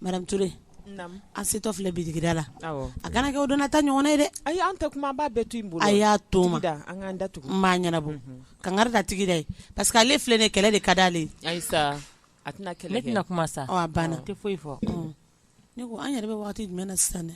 Madame Ture an setɔ filɛ bitigida la a kana kɛ o don na ta ɲɔgɔn ye dɛ ayi an tɛ kuma b'a bɛɛ to n bolo a y'a to ma da an da tugu n b'a ɲɛnabɔ kangari da tigi da ye parce que ale filɛ nin kɛlɛ de ka di ale ayi a tɛna kuma sa banna tɛ foyi fɔ ne ko an yɛrɛ bɛ waati jumɛn na sisan dɛ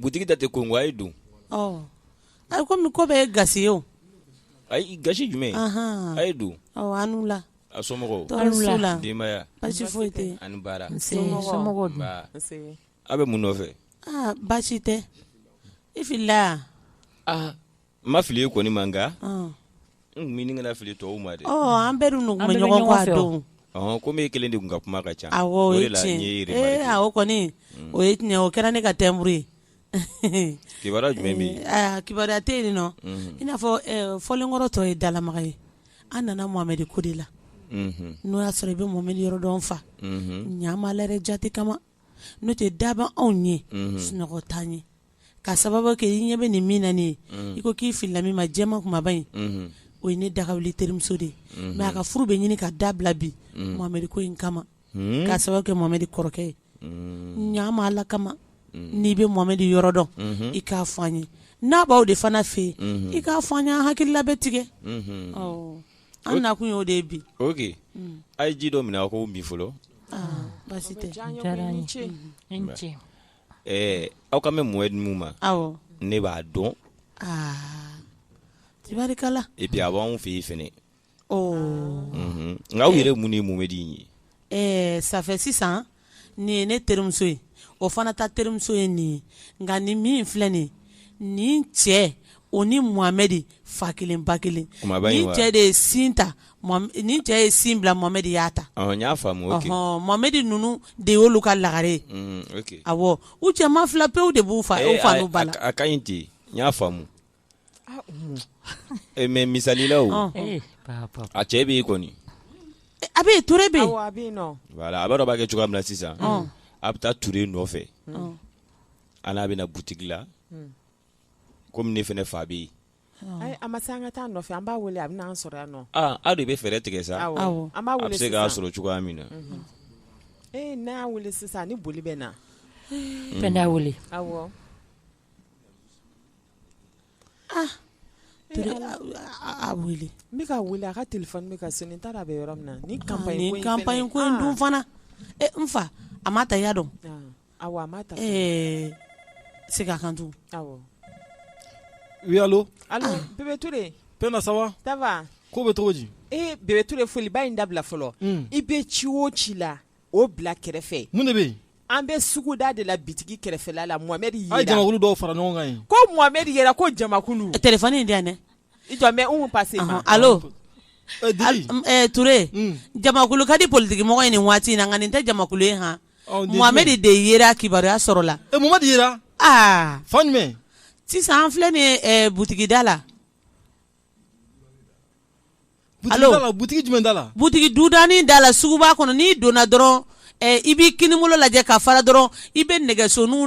butigi da tɛ kongo a ye don ayi kɔmi ko bɛɛ ye gasi ye o ayi gasi jumɛn a ye don a ni wula a somɔgɔw denbaya foyi ani baara aw bɛ mun nɔfɛ baasi tɛ i fili N ma fili e kɔni ma nka n bɛ ɲini ka fili tɔw ma dɛ an bɛɛ dun bɛ ɲɔgɔn dɔn kɔmi e kelen de tun ka kuma ka ca o kɔni o ye tiɲɛ o kɛra ne ka tɛmuru ye kibaruya jumɛn bɛ yen kibaruya tɛ yen nɔ i n'a fɔ fɔlen kɔrɔ tɔ ye dalamaga ye an nana Mohamɛdi ko de la n'o y'a sɔrɔ i bɛ Mohamɛdi yɔrɔ dɔn fa ɲa jate kama n'o tɛ daban anw ye sunɔgɔ t'an ɲɛ ka sababu kɛ i ɲɛ bɛ nin min na nin ye i ko k'i filila min ma jɛman kumaba in o ye ne daga wuli terimuso de ye mɛ a ka furu bɛ ɲini ka dabila bi Mohamɛdi ko in kama ka sababu kɛ Mohamɛdi kɔrɔkɛ ye ɲa ma ala kama n'i bɛ Mohamɛdi yɔrɔ dɔn i k'a fɔ an ye n'a b'aw de fana fɛ yen i k'a fɔ an ye an hakilila bɛ tigɛ an nakun y'o de ye bi a ye ji dɔ minɛ a k'o min fɔlɔ baasi tɛ Ɛɛ aw kan bɛ Mohamɛdi min ma ne b'a dɔn tibarikala et puis a b'an fɛ yen fɛnɛ nka aw yɛrɛ mun ye Mohamɛdi ye ɛɛ ça fait sisan nin ye ne terimuso ye o fana ta terimuso ye nin ye nka nin min filɛ nin nin cɛ o ni Mohamɛdi fa kelen ba kelen nin cɛ de ye sin ta nin cɛ ye sin bila Mohamɛdi y'a ta n y'a faamu Mohamɛdi ninnu de y'olu ka lagare ye awɔ u cɛman fila pewu de b'u fa n'u ba la a ka ɲi ten n y'a faamu mɛ misali la o a cɛ bɛ yen kɔni a bɛ yen Ture bɛ yen a b'a dɔn b'a kɛ cogoya min na sisan a bɛ taa Ture nɔfɛ a n'a bɛ na butigi la kɔmi ne fana fa bɛ yen a ma se an ka taa a nɔfɛ an b'a wele a bɛ n'an sɔrɔ yan nɔ aw de bɛ fɛɛrɛ tigɛ sa an b'a wele bɛ se k'a sɔrɔ cogoya min na ee n'a y'a wele sisan ni boli bɛ na fɛn y'a wele awɔ a wele n bɛka wele a ka téléphone bɛ ka sonner n t'a dɔn a bɛ yɔrɔ min na ni campagne ko in dun fana n fa a m'a ta y'a dɔn segin a kan oui allo ça va ko bɛ cogo di Bébé Touré foliba in dabila fɔlɔ i bɛ ci o ci la o bila kɛrɛfɛ mun de bɛ yen an bɛ suguda de la bitigi kɛrɛfɛla la Mohamɛdi yera a ye jamakulu dɔw fara ɲɔgɔn kan ye ko Mohamɛdi yera ko jamakulu téléphone in di yan dɛ i jɔ mɛ pa Touré jamakulu ka di politigimɔgɔ ye nin waati in na nka nin tɛ jamakulu ye h Mohamɛdi de yera kibaruya sɔrɔla sisan an filɛ nin butigida la butigi dudani da la suguba kɔnɔ n'i donna dɔrɔn i b'i kininbolo lajɛ ka fara dɔrɔn i bɛ nɛgɛsoniw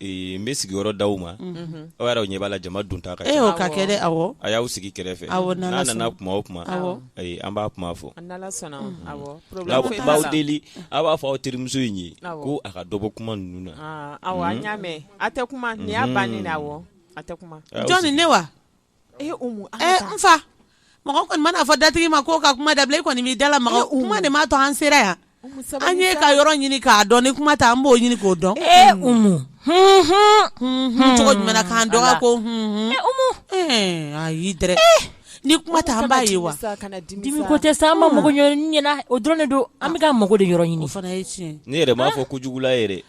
Ee n bɛ sigiyɔrɔ d'aw ma, unhun, aw yɛrɛ ɲɛ b'a la jama donta ka ca, e o ka kɛ dɛ, awɔ, a y'aw sigi kɛrɛfɛ, awɔ, n'Ala sɔnna, n'a nana kuma o kuma, awɔ, ayi an b'a kuma fɔ, n'Ala sɔnna, awɔ, problème foyi t'a la, n b'aw deli aw b'a fɔ aw terimuso in ye ko a ka dɔ bɔ kuma ninnu na, awɔ, an y'a mɛn, a tɛ kuma, nin y'a bannen ye, awɔ, a tɛ kuma, jɔnni ne wa Ee n fa mɔgɔ kɔni man'a fɔ datigi ma ko ka kuma dabila e kɔni b'i da lamaga kuma de ma to an sera yan an ye ka yɔrɔ ɲini k'a dɔn ni kuma tɛ an b'o ɲini k'o dɔn cogo jumɛn na k'an dɔgɔ ko ayi ni kuma tɛ an b'a ye wa dimi ko tɛ sa an mako ɲɛna o dɔrɔn don an bɛ ka mako de yɔrɔ ɲini fana ne yɛrɛ b'a fɔ ko jugula yɛrɛ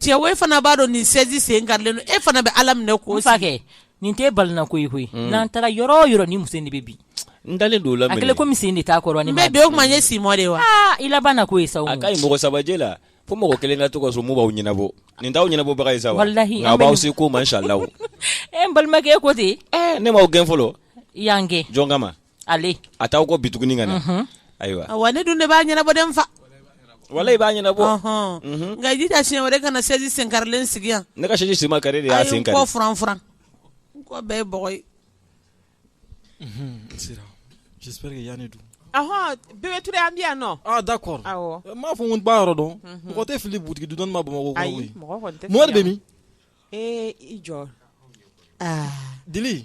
cɛ e fana b'a dɔn nin sɛji sen karilen don e fana bɛ ala minɛ ko sa nin tɛ balina ko ye koyi mm. n'an taara yɔrɔ o yɔrɔ nin muso in de bɛ bin n dalen don o la a kɛlen komi sen de t'a kɔrɔ ni n bɛ bin o kuma n ye simɔ de wa i labanna ko ye sa a ka ɲi mɔgɔ saba jɛ la fo mɔgɔ kelen ka to ka so mun b'aw ɲɛnabɔ nin t'aw ɲɛnabɔbaga ye sa walahi nka b'aw se ko ma inshallah n balimakɛ e ko ten ne m'aw gɛn fɔlɔ y'an gɛn jɔn kama ale a t'aw kɔ bi tuguni ka na ayiwa wa ne dun de b'a ɲɛnabɔ den fa wala i b'a ɲɛnabɔ nka i jija siɲɛ wɛrɛ kana sɛji senkarilen sigi yan ne ka sɛji sen ma kari e de y'a sen kari kɔ furan furan kɔ bɛɛ ye bɔgɔ ye sira j'espère que yanni dun ahɔn Bébé Touré an bɛ yan nɔ ah d'accord awɔ n m'a fɔ n ko n b'a yɔrɔ dɔn mɔgɔ tɛ fili butigi dudani ma Bamakɔ kɔnɔ koyi mɔgɔ kɔni tɛ fili Mohamɛdi bɛ min ee i jɔ Dili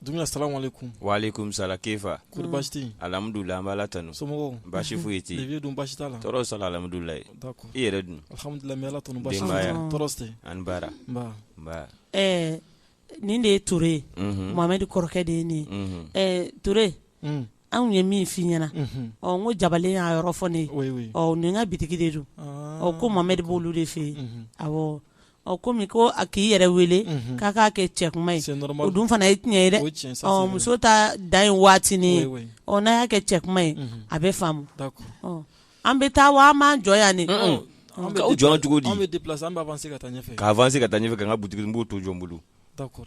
Dumbuya salamu alaikum salam kefa alhamdulillah an b'Ala tanu somɔgɔw basi foyi tɛ yen dun basi t'a la tɔɔrɔ s'a la alhamdulillah i yɛrɛ dun ani baara ɛɛ nin de ye Touré ye Mohamɛdi kɔrɔkɛ de ye nin ye Touré anw ye min f' i ɲɛna ɔ n ko jabalen y'a yɔrɔ fɔ ne ye nin ka bitigi de don ɔ ko Mohamɛdi b'olu de fɛ yen ɔ komi ko a k'i yɛrɛ wele unhun, k'a k'a kɛ cɛ kuma ye c'est normal o dun fana ye tiɲɛ ye dɛ o ye tiɲɛ ye, ça, c'est vrai ɔ muso ta dan ye waatinin ye, oui, oui, ɔ n'a y'a kɛ cɛ kuma ye unhun, a bɛ faamu, d'accord ɔ an bɛ taa wa an b'an jɔ yan de, un-un, ɔ, k'an jɔ yan cogo di, an bɛ déplacer an bɛ avancer ka taa ɲɛfɛ, ka avancer ka taa ɲɛfɛ ka n ka boutique n b'o to jɔn bolo, d'accord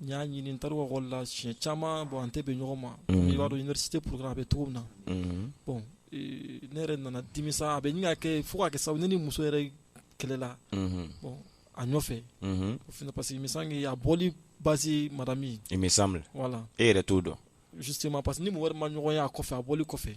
N y'a ɲini tɔgɔ la si caman bɔn an tɛ bɛ ɲɔgɔn ma i b'a dɔn si tɛ porokan a bɛ cogo min na bɔn ne yɛrɛ nana dimi a bɛ ka kɛ fo ka kɛ sa ni muso yɛrɛ kɛlɛla bɔn a nɔfɛ o parce que a bɔ basi mara min wala e yɛrɛ t'o dɔn si ma parce que ni wari ma ɲɔgɔn ye a kɔfɛ a bɔ kɔfɛ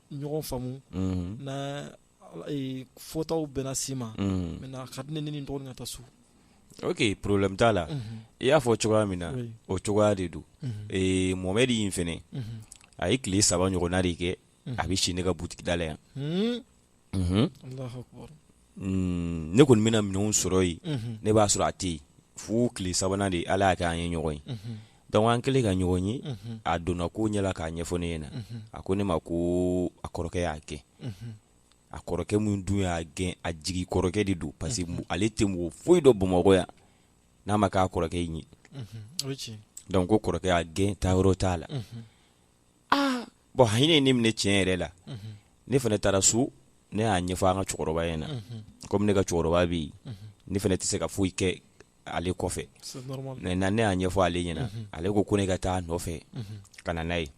ɲɔgɔn faamu na fɔtaw bɛna si ma maintenant a ka di ne ye n dɔgɔnin ka taa so ok problème t'a la i y'a fɔ cogoya min na o cogoya de don Mohamed in fana a ye tile saba ɲɔgɔnna de kɛ a bɛ si ne ka butigida la yan ne kɔni bɛna minɛn sɔrɔ yen ne b'a sɔrɔ a tɛ yen fo tile sabanan de ala y'a kɛ an ye ɲɔgɔn ye Donc an kɛlen ka ɲɔgɔn ye a donna ko ɲɛ la k'a ɲɛfɔ ne ɲɛna a ko ne ma ko a kɔrɔkɛ y'a gɛn a kɔrɔkɛ min dun y'a gɛn a jigi kɔrɔkɛ de don parce que ale tɛ mɔgɔ foyi dɔn Bamakɔ yan n'a ma k'a kɔrɔkɛ in ye donc ko kɔrɔkɛ y'a gɛn taayɔrɔ t'a la aa bon hinɛ ye ne minɛ tiɲɛ yɛrɛ la ne fana taara so ne y'a ɲɛfɔ an ka cɛkɔrɔba ɲɛna komi ne ka cɛkɔrɔba bɛ yen ne fana tɛ se ka foyi kɛ ale kɔfɛ maintenant ne y'a ɲɛfɔ ale ɲɛna ale ko ko ne ka taa a nɔfɛ ka na n'a ye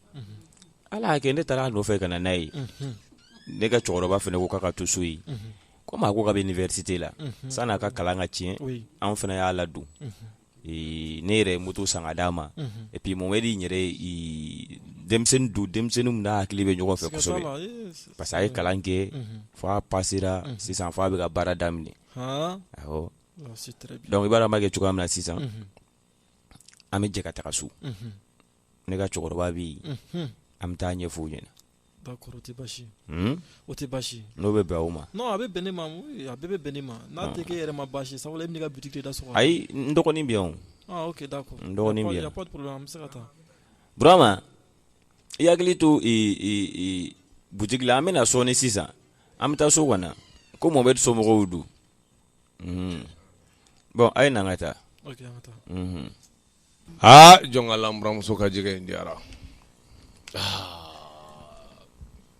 ala y'a kɛ ne taara a nɔfɛ ka na n'a ye ne ka cɛkɔrɔba fana ko k'a ka to so yen komi a ko k'a bɛ université la san'a ka kalan ka tiɲɛ anw fana y'a ladon ne yɛrɛ ye moto san ka d'a ma et puis Mohamed in yɛrɛ denmisɛnnin don denmisɛnnin min n'a hakili bɛ ɲɔgɔn fɛ kosɛbɛ parce que a ye kalan kɛ fo a pasera sisan fo a bɛ ka baara daminɛ awɔ donc i b'a dɔn an b'a kɛ cogoya min na sisan an bɛ jɛ ka taga so. ne ka cɛkɔrɔba bɛ yen an bɛ taa a ɲɛfɔ o ɲɛna o tɛ basi n'o bɛ bɛn o ma a bɛ bɛn ne ma a bɛ bɛn ne ma n'a tɛ k'e yɛrɛ ma basi sabula e bɛna i ka boutique da sɔgɔ ayi n dɔgɔnin bɛ yan d'accord n dɔgɔnin bɛ yan an bɛ se ka taa Burama i hakili to boutique la an bɛna sɔɔni sisan an bɛ taa so kɔnɔ ko Mohamed somɔgɔw don bon a ye na an ka taa Aa jɔn ko ala n buranmuso ka jɛgɛ in diyara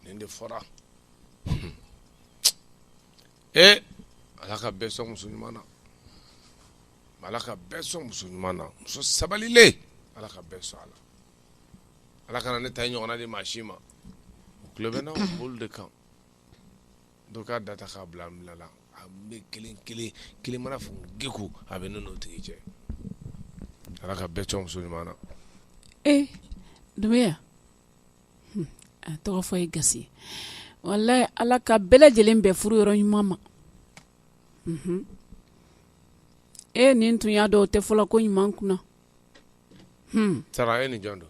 nin de fɔra ee ala ka bɛɛ sɔn muso ɲuman na ala ka bɛɛ sɔn muso ɲuman na muso sabalilen ala ka bɛɛ sɔn a la ala kana ne ta ɲɔgɔnna di maa si ma tulo bɛ na olu de kan Dɔ k'a da ta k'a bila an fila la, a bɛ kelen kelen, kelen mana fɔ gegew a bɛ ne n'o tigi cɛ, Ala ka bɛɛ sɔn muso ɲuman na, e Dunbiya hun, a tɔgɔ fɔ ye gasi ye, walahi Ala ka bɛɛ lajɛlen bɛn furu yɔrɔ ɲuman ma, unhun, e nin tun y'a dɔn o tɛ fɔla ko ɲuman kunna, hun, Sara e ni jɔn don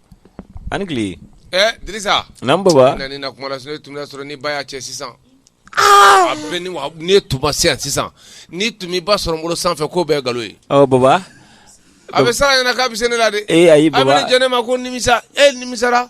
Ani tile Dirisa n'an baba na kuma la tun y'a sɔrɔ ni ba y'a cɛ sisan aa ni e tun ma se yan sisan ni tun b'i ba sɔrɔ n bolo sanfɛ k'o bɛɛ nkalon ye baba a bɛ Sara ɲɛna k'a bɛ se ne la de ee a y'i ba jɛnɛ ne ma ko nimisa e nimisara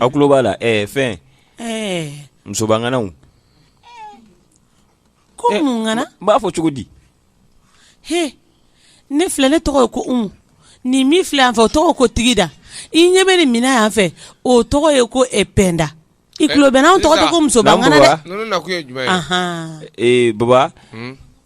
aw tulo b'a la ɛɛ fɛn musobaŋanaw ko mun ŋana n b'a fɔ cogo di he ne filɛ ne tɔgɔ ye ko umu nin min filɛ yan fɛ o tɔgɔ ko tigida i ɲɛ bɛ nin min na yan fɛ o tɔgɔ ye ko pɛnda i tulo bɛ n na anw tɔgɔ tɛ ko musobaŋana dɛ baba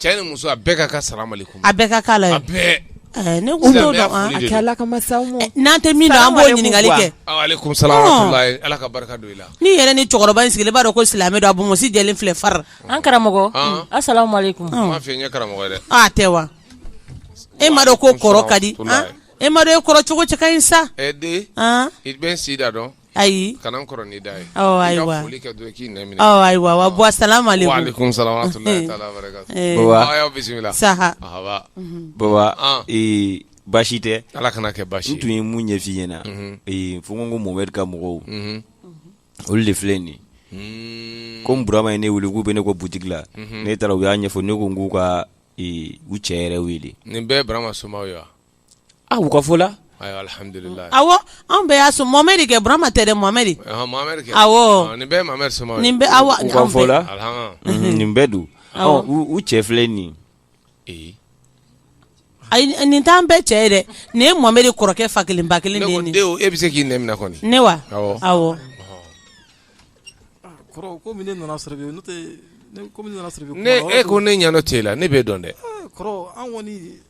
Cɛ ni muso a bɛɛ ka kan salam aleyikum a bɛɛ ka kan a la, a bɛɛ, ɛɛ, ne tun t'o dɔn, a kɛ Ala kama sa, Umu, n'an tɛ min dɔn an b'o ɲininkali kɛ, walekum salam wa rahamatulayi Ala ka barika don i la, n'i yɛrɛ ni cɛkɔrɔba in sigilen i b'a dɔn ko silamɛ don a bonmosi jɛlen filɛ far, an karamɔgɔ, an, asalamu aleyikum, n m'a f'i ye n ye karamɔgɔ ye dɛ, aa a tɛ wa, e m'a dɔn ko kɔrɔ ka di, e m'a dɔn e kɔrɔ cogo cɛ ka ɲi sa, ɛɛ den, an, i bɛ n si da dɔn ayi kana n kɔrɔ n'i da ye aw ayiwa foli kɛ dɔrɔn k'i naminɛ aw ayiwa wa bɔ salam aleykum wa aleykum salam wa rahmatullahi taala wa barakatu baba aw y'aw bisimila saha ahaba baba ee baasi tɛ ala kan'a kɛ baasi n tun ye mun ɲɛf'i ɲɛna ee fo n ko momɛdi ka mɔgɔw olu de filɛ nin komi burama ye ne wele k'u bɛ ne kɔ butigi la ne taara u y'a ɲɛfɔ ne ko n k'u ka u cɛ yɛrɛ wele nin bɛɛ burama somaw ye wa A u ka fɔ la awɔ anw bɛɛ y'a sɔrɔ momɛdi kɛ burama tɛ dɛ momɛdi nin bɛɛ don u cɛ filɛ nin ayi nin t'an bɛɛ cɛ ye dɛ nin ye momɛdi kɔrɔkɛ fa kelen ba kelen e bɛ se k'i ne ne wa awɔ e ko ne ɲɛ t'e la ne b'e dɔn dɛ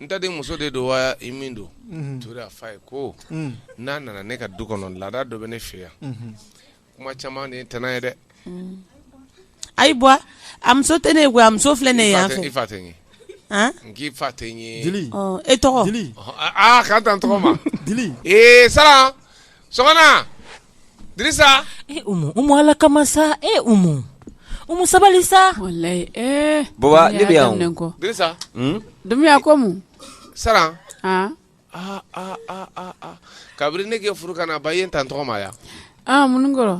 n ta denmuso de don wa i min don ture a fa ye ko n'a nana ne ka du kɔnɔ laada dɔ bɛ ne fɛ yan kuma caman ne tana ye dɛ ayi bɔ a muso tɛ ne ye a muso filɛ nin yan fɛ i fa tɛ n ye n k'i fa tɛ n ye e tɔgɔ k'an ta n tɔgɔ ma ee sara ala kama sa e umu sabali sa baba ne bɛ yan ko saran kabini ne k'e furu ka na ba i ye n ta n tɔgɔ ma yan minnu kɔrɔ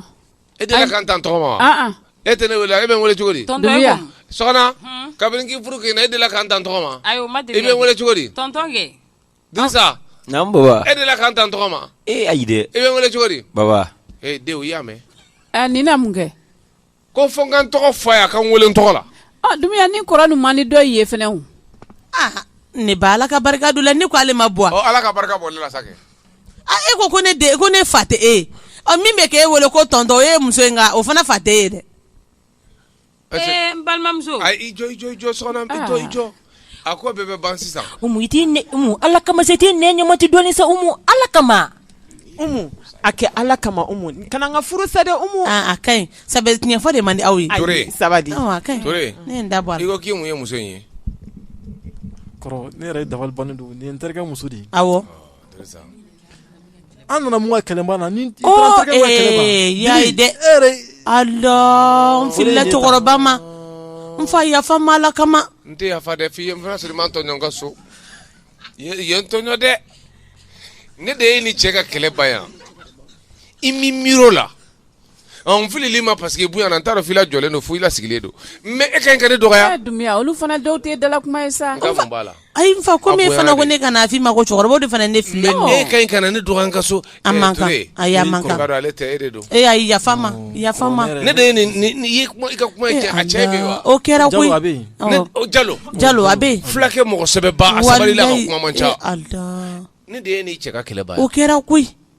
e delila ka n ta n tɔgɔ ma e tɛ ne wele e bɛ n wele cogo di kabini k'i furu ka na e delila ka n ta n tɔgɔ ma i bɛ n wele cogo di Dirisa baba e delila ka n ta n tɔgɔ ma e ayi e bɛ n wele cogo di baba dɛ i y'a mɛn nin na mun kɛ ko fo n ka n tɔgɔ fɔ a ye a ka n weele n tɔgɔ la Dumbuya ni kɔrɔ nin man di dɔ ye fana ne ba ala ka barika don la ne ko ale ma bɔ ala ka barika bɔ ne la sa e ko ko ne den ko ne fa tɛ e min bɛ k'e weele ko tɔntɔn e muso in o fana fa tɛ e ye dɛ Parce que ee n balimamuso a i jɔ i jɔ i jɔ Sɔgɔna i jɔ i jɔ a ko bɛɛ bɛ ban sisan Umu i t'i nɛ Umu Ala kama sa i t'i nɛ ɲɛmati dɔɔni sa Umu Ala kama Umu a kɛ Ala kama Umu kana n ka furu sa dɛ Umu aa a ka ɲi sabu tiɲɛ fɔ de man di aw ye Ture ayi sabali awɔ a ka ɲi Ture ne ye n da bɔ a la ko k'i mun ye muso in ye kɔrɔ ne yɛrɛ ye dabali bannen don nin ye n terikɛ muso de ye awɔ Ture sa An nana mun ka kɛlɛ ban na ni dɛ n filila cɛkɔrɔba ma n fa yafa n ma ala kama n tɛ yafa dɛ f'i ye n fana sɔrɔ i ma n tɔɲɔ n ka so i ye n tɔɲɔ dɛ ne de ye n'i cɛ ka kɛlɛ ban yan i ma miiri o la Ɔn n filila i ma parce que bonya na n t'a dɔn f'i la jɔlen don fo i la sigilen don. Mais e ka ɲi ka ne dɔgɔya. Dumbuya olu fana dɔw tɛ dala kuma ye sa. N ka mun b'a la? Ayi n fa comme e fana ko ne kana f'i ma ko cɛkɔrɔbaw de fana ye ne filɛ. E ka ɲi ka na ne dɔgɔya n ka so. A man kan ayi a man kan. Ee ayi yafa n ma yafa n ma. Ne de ye nin ye i ka kuma in cɛ a cɛ bɛ yen wa? O kɛra koyi Jalo Jalo a bɛ yen. Fulakɛ mɔgɔ sɛbɛba a sabalila a ka kuma man ca. Ne de ye e ni cɛ ka kɛlɛ ban ye. O kɛra koyi.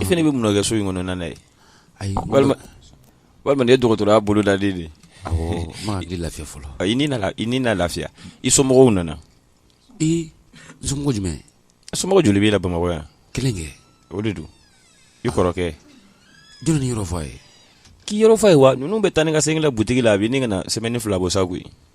i fana bɛ mun kɛ so in kɔnɔ n ye walima walima nin ye dɔgɔtɔrɔya bolodalen de ye lafiya fɔlɔ i ni na lafiya i somɔgɔw nana ee somɔgɔ jumɛn somɔgɔ joli b'i la bamakɔ yan kelen kɛ o de don i kɔrɔkɛ jɔn y'i yɔrɔ fɔ a ye k'i yɔrɔ f'a ye wa ninnu bɛ taa ni ka segin la butigi la a bɛ ne ka na semaine fila bɔ sa koyi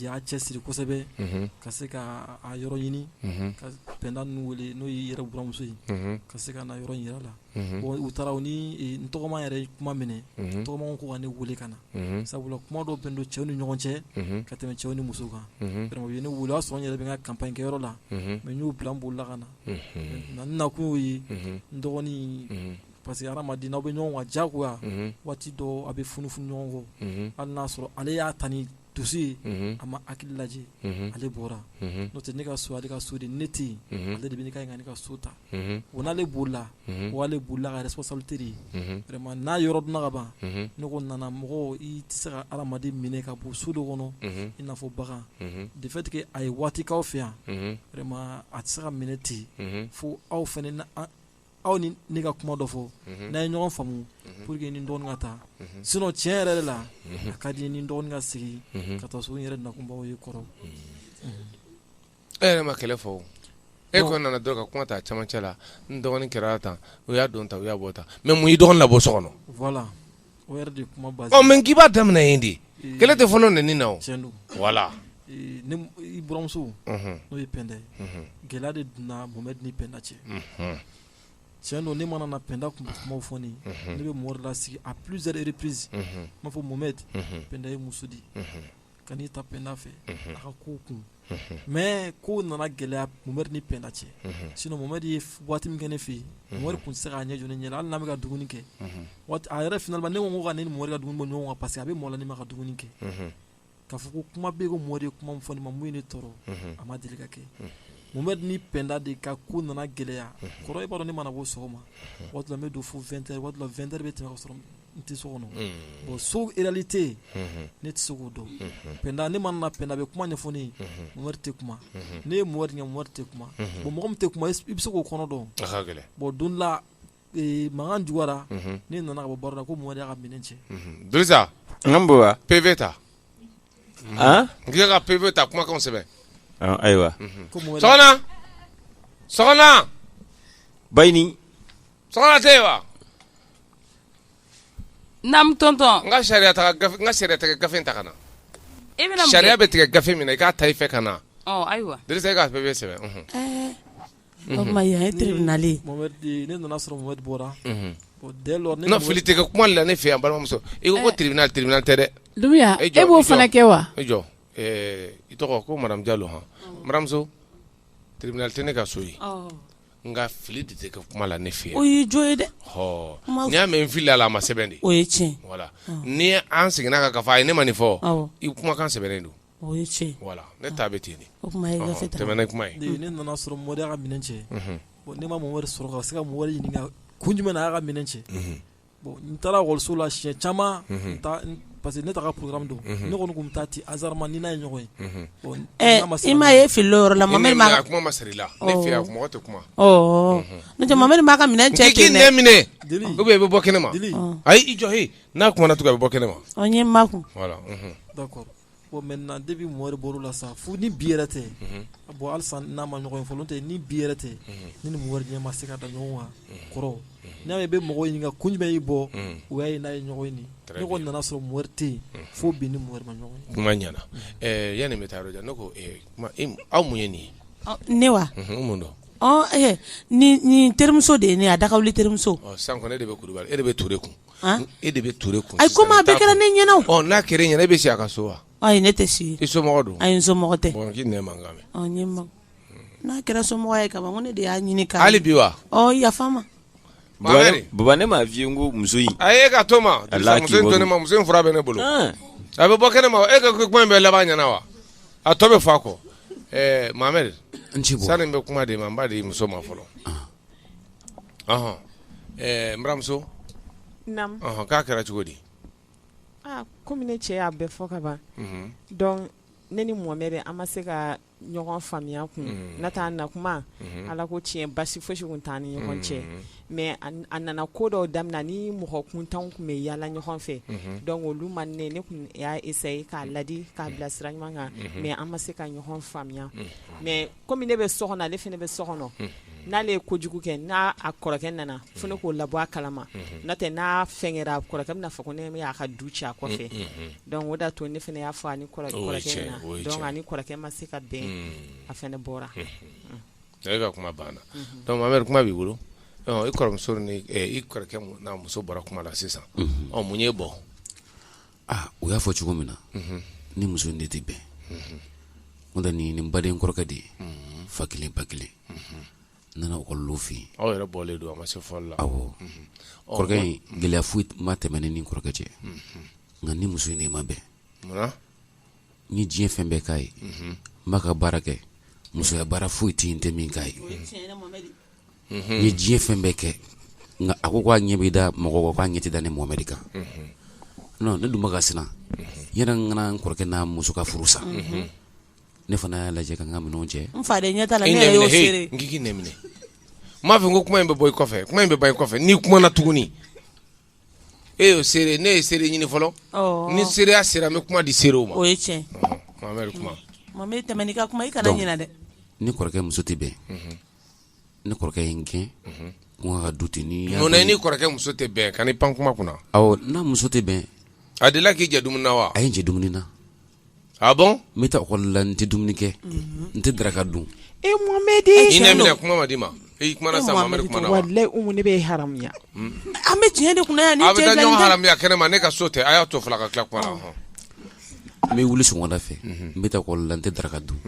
y'a cɛ siri kosɛbɛ ka se k'a yɔrɔ ɲini ka Penda ninnu weele n'o y'i yɛrɛ buranmuso ye ka se ka na yɔrɔ yɛrɛ la u taara u ni n tɔgɔma yɛrɛ kuma minɛ tɔgɔma ko ka ne weele ka na sabula kuma dɔ bɛn don cɛw ni ɲɔgɔn cɛ ka tɛmɛ cɛw ni musow kan u ye ne weele o y'a sɔrɔ n yɛrɛ bɛ n ka campagne kɛyɔrɔ la mais n y'o bila n bolila ka na n nakun y'o ye n dɔgɔnin parce que hadamaden n'aw bɛ ɲɔgɔn kan jagoya waati dɔ a bɛ funufunu ɲɔgɔn kɔ hali n'a sɔrɔ ale y'a tan ni dusu ye a ma hakili lajɛ ale bɔra n'o tɛ ne ka so ale ka so de ne tɛ yen ale de bɛ ka kan ne ka so ta o n'ale bolila o ale bolila ka responsabilité de ye vraiment n'a yɔrɔ dɔnna ka ban ne ko nana mɔgɔ i tɛ se ka adamaden minɛ ka bon so dɔ kɔnɔ i n'a fɔ bagan de fait que a ye waati k'aw fɛ yan vraiment a tɛ se ka minɛ ten fo aw fana aw ni ne ka kuma dɔ fɔ n'a ye ɲɔgɔn faamu pour que ni dɔgɔnin ka taa sinon tiɲɛ yɛrɛ de la a ka di ni dɔgɔnin ka segin ka taa so n yɛrɛ nakunbaw ye kɔrɔ e yɛrɛ ma kɛlɛ fɔ e ko nana dɔrɔn ka kuma ta camancɛ la n dɔgɔnin kɛra tan u y'a don tan u y'a bɔ tan mais mun y'i dɔgɔnin labɔ so kɔnɔ mɛ k'i b'a daminɛ in de kɛlɛ tɛ fɔlɔ n na wala nimuso n'o ye pd gɛlɛya de donna bon ni pda cɛ cɛn don ne mana na pda tun kuma fɔ ne bɛ mori la sigi a pzre ppzse b'a fɔ momɛd pda ye muso di Ka n'i ta Pɛnda fɛ a ka ko kun mais ko nana gɛlɛya Mohamed ni Pɛnda cɛ sinon Mohamed ye waati min kɛ ne fɛ yen Mohamed tun tɛ se k'a ɲɛ jɔ ne ɲɛ na hali n'an bɛ ka dumuni kɛ a yɛrɛ finalement ne ko ka ne ni Mohamed ka dumuni bɔ ɲɔgɔn kan parce que a bɛ malo ne ma ka dumuni kɛ k'a fɔ ko kuma bɛ yen ko Mohamed ye kuma min fɔ ne ma min ye ne tɔɔrɔ a ma deli ka kɛ Mohamed ni Pɛnda de ka ko nana gɛlɛya kɔrɔ i b'a dɔn ne mana bɔ sɔgɔma waati la n bɛ don fo 20h waati la 20h bɛ tɛmɛ ka sɔrɔ n tɛ so kɔnɔ bon so réalité ne tɛ se k'o dɔn Pɛnda ne mana na Pɛnda bɛ kuma ɲɛfɔ ne ye Mohamed tɛ kuma n' ye Mohamed ɲɛ Mohamed tɛ kuma bon mɔgɔ min tɛ kuma i bɛ se k'o kɔnɔ dɔn bon don la mankan juguyara ne nana ka bɔ baara la ko Mohamed y'a ka minɛn cɛ Dirisa PV ta n k'i ka PV ta kumakanw sɛbɛn ayiwa ba naamu tonton n ka sariya n ka sariya tigɛ gafe ta ka na sariya bɛ tigɛ gafe min na i k'a ta i fɛ ka na ayiwa Dirisa e ka PV sɛbɛn o tuma yan ye tribunal ye ne nana sɔrɔ Mohamed bɔra non fili tɛ kɛ kuma la ne fɛ yan balimamuso i ko tribunal tribunal tɛ dɛ e b'o fana kɛ wa i jɔ i tɔgɔ ko Madame Diallo baramuso tribunal tɛ ne ka so ye nka fili de tɛ kɛ kuma la ne fɛ yan o y'i jo ye dɛ n'i y'a mɛn n filila a ma sɛbɛn de o ye tiɲɛ voilà ni an seginna a kan k'a fɔ a ye ne ma nin fɔ i kumakan sɛbɛnnen don voilà ne ta bɛ ten o kuma tɛmɛ ni kuma ye ne nana sɔrɔ Mohamed y'a ka minɛn cɛ ne ma Mohamed sɔrɔ ka se ka Mohamed ɲininka kun jumɛn na a y'a ka minɛn cɛ bon n taara ekɔliso la siɲɛ caman, unhun, parce que ne t'a ka programme dɔn, unhun, ne kɔni tun bɛ taa ten hasardement ni n'a ye ɲɔgɔn ye, unhun, bon ɛ i m'a ye e filila o yɔrɔ la, Mohamed ma, a kuma ma sara i la, ne fɛ yan mɔgɔ tɛ kuma, ɔɔ, n'o tɛ Mohamed m'a ka minɛn cɛ ten dɛ, n k'i k'i nɛn minɛ, Dili, ou bien i bɛ bɔ kɛnɛma, Dili, ayi i jɔ he, n'a kumana tugun a bɛ bɔ kɛnɛma, ɔ n ye n makun, voilà unhun, d'accord Bon maintenant depuis Mohamɛdi bɔra o la sa fo ni bi yɛrɛ tɛ, unhun, bon halisa n'a ma ɲɔgɔn ye fɔlɔ n'o tɛ ni bi yɛrɛ tɛ, unhun, ne ni Mohamɛdi ɲɛ ma se ka da ɲɔgɔn kan kɔrɔ, unhun, n'i y'a ye i bɛ mɔgɔw ɲininka kun jumɛn y'i bɔ, unhun, o y'a ye n'a ye ɲɔgɔn ye nin, très bien, ne kɔni nana sɔrɔ Mohamɛdi tɛ yen fo bi ne ni Mohamɛdi ma ɲɔgɔn ye, kuma ɲɛna, ɛ yani n bɛ taa yɔrɔ jan ne ko e ma e ma aw mun ye nin ye, ɔ ne wa, unhun, n mun don, ɔ ɛ nin nin terimuso de ye ne ye a dakawuli terimuso, ɔ sisan kɔni e de bɛ Kulibali e de bɛ Ture kun E de bɛ Ture kun ayi komi a bɛɛ kɛra ne ɲɛna n'a kɛra e ɲɛna e bɛ si a ka so wa ayi ne tɛ si i somɔgɔ don ayi n somɔgɔ tɛ n'a kɛra somɔgɔ ye ko ne de y'a ɲini ka hali bi wa yafa n ma baba ne m'a f'i ye n ko muso in a k'a to ne ma muso in fura bɛ ne bolo a bɛ bɔ kɛnɛ ma e ka kuma in bɛɛ laban ɲɛna wa a tɔ bɛ fɔ a kɔ Mohamɛdi sani n bɛ kuma d'e ma n b'a di muso ma fɔlɔ baramuso k'a kɛra cogo di kɔmi ne cɛ y'a bɛɛ fɔ ka ban ne ni Mohamɛdi an ma se ka ɲɔgɔn faamuya kun n'a t'a na kuma ala ko tiɲɛ basi foyisi kun t'an ni ɲɔgɔn cɛ mɛ a nana ko dɔw daminɛ ni mɔgɔ kuntanw tun bɛ yaala ɲɔgɔn fɛ dɔnku olu ma ne ne tun y'a essayer k'a ladi k'a bila sira ɲuman kan mɛ an ma se ka ɲɔgɔn faamuya mɛ kɔmi ne bɛ so kɔnɔ ale fana bɛ so kɔnɔ n'ale ye kojugu kɛ n'a kɔrɔkɛ nana fo ne k'o labɔ a kalama n'a tɛ n'a fɛn kɛra a kɔrɔkɛ bɛna fɔ ko ne y'a ka du ci a kɔfɛ dɔnku o d'a to ne fana y'a fɔ a ni kɔrɔkɛ ma se ka bɛn a fana bɔra e ka kuma banna dɔnku Mohamɛdi kuma b'i bolo i kɔrɔmuso ni i kɔrɔkɛ n'a muso bɔra kuma la sisan mun y'e bɔ u y'a fɔ cogo min na n ni muso in de tɛ bɛn n'o tɛ nin n baden kɔrɔkɛ de ye fa kelen ba kelen n nana ekɔli de nɔfɛ aw yɛrɛ bɔlen don a ma se fɔli la awɔ kɔrɔkɛ in gɛlɛya foyi ma tɛmɛ ne ni kɔrɔkɛ cɛ nka n ni muso in de ma bɛn n ye diɲɛ fɛn bɛɛ k'a ye n b'a ka baara kɛ musoya baara foyi tɛ yen n tɛ min k'a ye n ye diɲɛ fɛn bɛɛ kɛ nka a ko k'a ɲɛ bɛ da mɔgɔ kɔ k'a ɲɛ tɛ da ne Mohamɛdi kan non ne dun bɛ ka siran yɛrɛ n kana n kɔrɔkɛ n'a muso ka furu sa ne fana y'a lajɛ ka n ka minɛnw cɛ n fa de ɲɛ t'a la ne yɛrɛ y'o seere n k'i k'i nɛn minɛ n m'a fɛ ko kuma in bɛ bɔ i kɔfɛ kuma in bɛ ban i kɔfɛ n'i kumana tuguni e y'o seere ne ye seere ɲini fɔlɔ Ɔɔ. ni seereya sera n bɛ kuma di seerew ma o ye tiɲɛ Ɔhɔn, Mohamɛdi kuma Mohamɛdi tɛmɛ n'i ka kuma i kana ɲinɛ dɛ n ni kɔrɔkɛ muso tɛ bɛn Ne kɔrɔkɛ ye n gɛn ka du ten ne ni kɔrɔkɛ muso tɛ bɛn ka n pan kuma kunna n'a muso tɛ bɛn a deli k'i jɛ dumuni na wa a ye n jɛ dumuni na a n bɛ taa ekɔli la n tɛ dumuni kɛ n tɛ daraka dun e Mohamɛdi kuma ma d'i ma e kumana sa ne bɛ haya an bɛ tiɲɛ de kunna yan a bɛ ɲɔgɔn haya kɛnɛ ne ka so tɛ a y'a to fila ka tila kuma n bɛ wuli sɔgɔmada fɛ n bɛ taa ekɔli la n tɛ daraka dun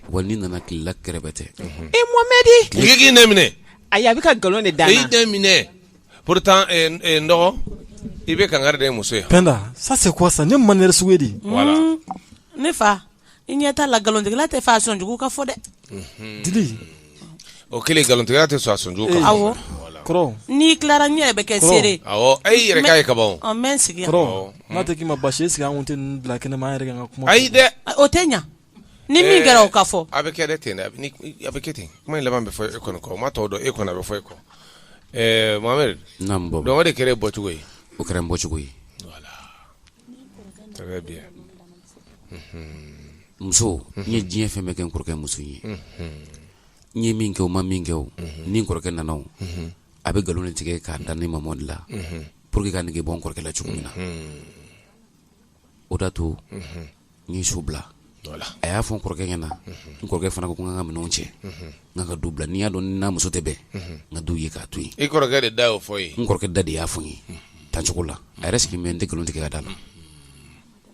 wa n'i nana tilela kɛrɛbɛtɛ e mohamɛdi k'i nɛn minɛ a a bɛ ka nkalon de da i nɛn minɛ pourtant n dɔgɔ i bɛ kangari da i muso ye penda ça c'est quoi ça ne manière sugu di ne fa i ɲɛ t'a la nkalontigɛla t'a fɛ a sɔnjugu ka fɔ dɛ O kɛlen nkalontigɛla tɛ sɔn a sɔnjugu kan n'i tilara ne yɛrɛ bɛ kɛ seere e y'i yɛrɛ k'a ye kaban n bɛ n sigi n'a tɛ k'i ma basi est-ce que an tɛ bila kɛnɛ ma an yɛrɛ ka kuma ayi dɛ o tɛ ɲɛ ni min kɛra o ka fɔ a bɛ kɛ ten bɛ kɛ ten kuma in laban bɛ fɔ e kɔni kɔ ma tɔw dɔn e kɔni a bɛ fɔ e kɔ mohamɛdi donc o de kɛra e bɔcogo ye o kɛra n bɔcogo ye muso n ye diɲɛ fɛn bɛɛ kɛ n kɔrɔkɛ muso ye n ye min kɛ o ma min kɛ o ni n kɔrɔkɛ nana a bɛ nkalon tigɛ k'a da ne mamadi la pour que ka n nege bɔ n kɔrɔkɛ la cogo min na o d'a to n ye so bila a y'a fɔ n kɔrɔkɛ ɲɛna n kɔrɔkɛ fana ko n ka minɛnw cɛ n ka du bila n'i y'a dɔn n n'a muso tɛ bɛn n ka du ye k'a to yen e kɔrɔkɛ de da y'o fɔ n kɔrɔkɛ da de y'a fɔ n ye tan cogo la a yɛrɛ sigi bɛ n tɛ nkalon tigɛ k'a d'a la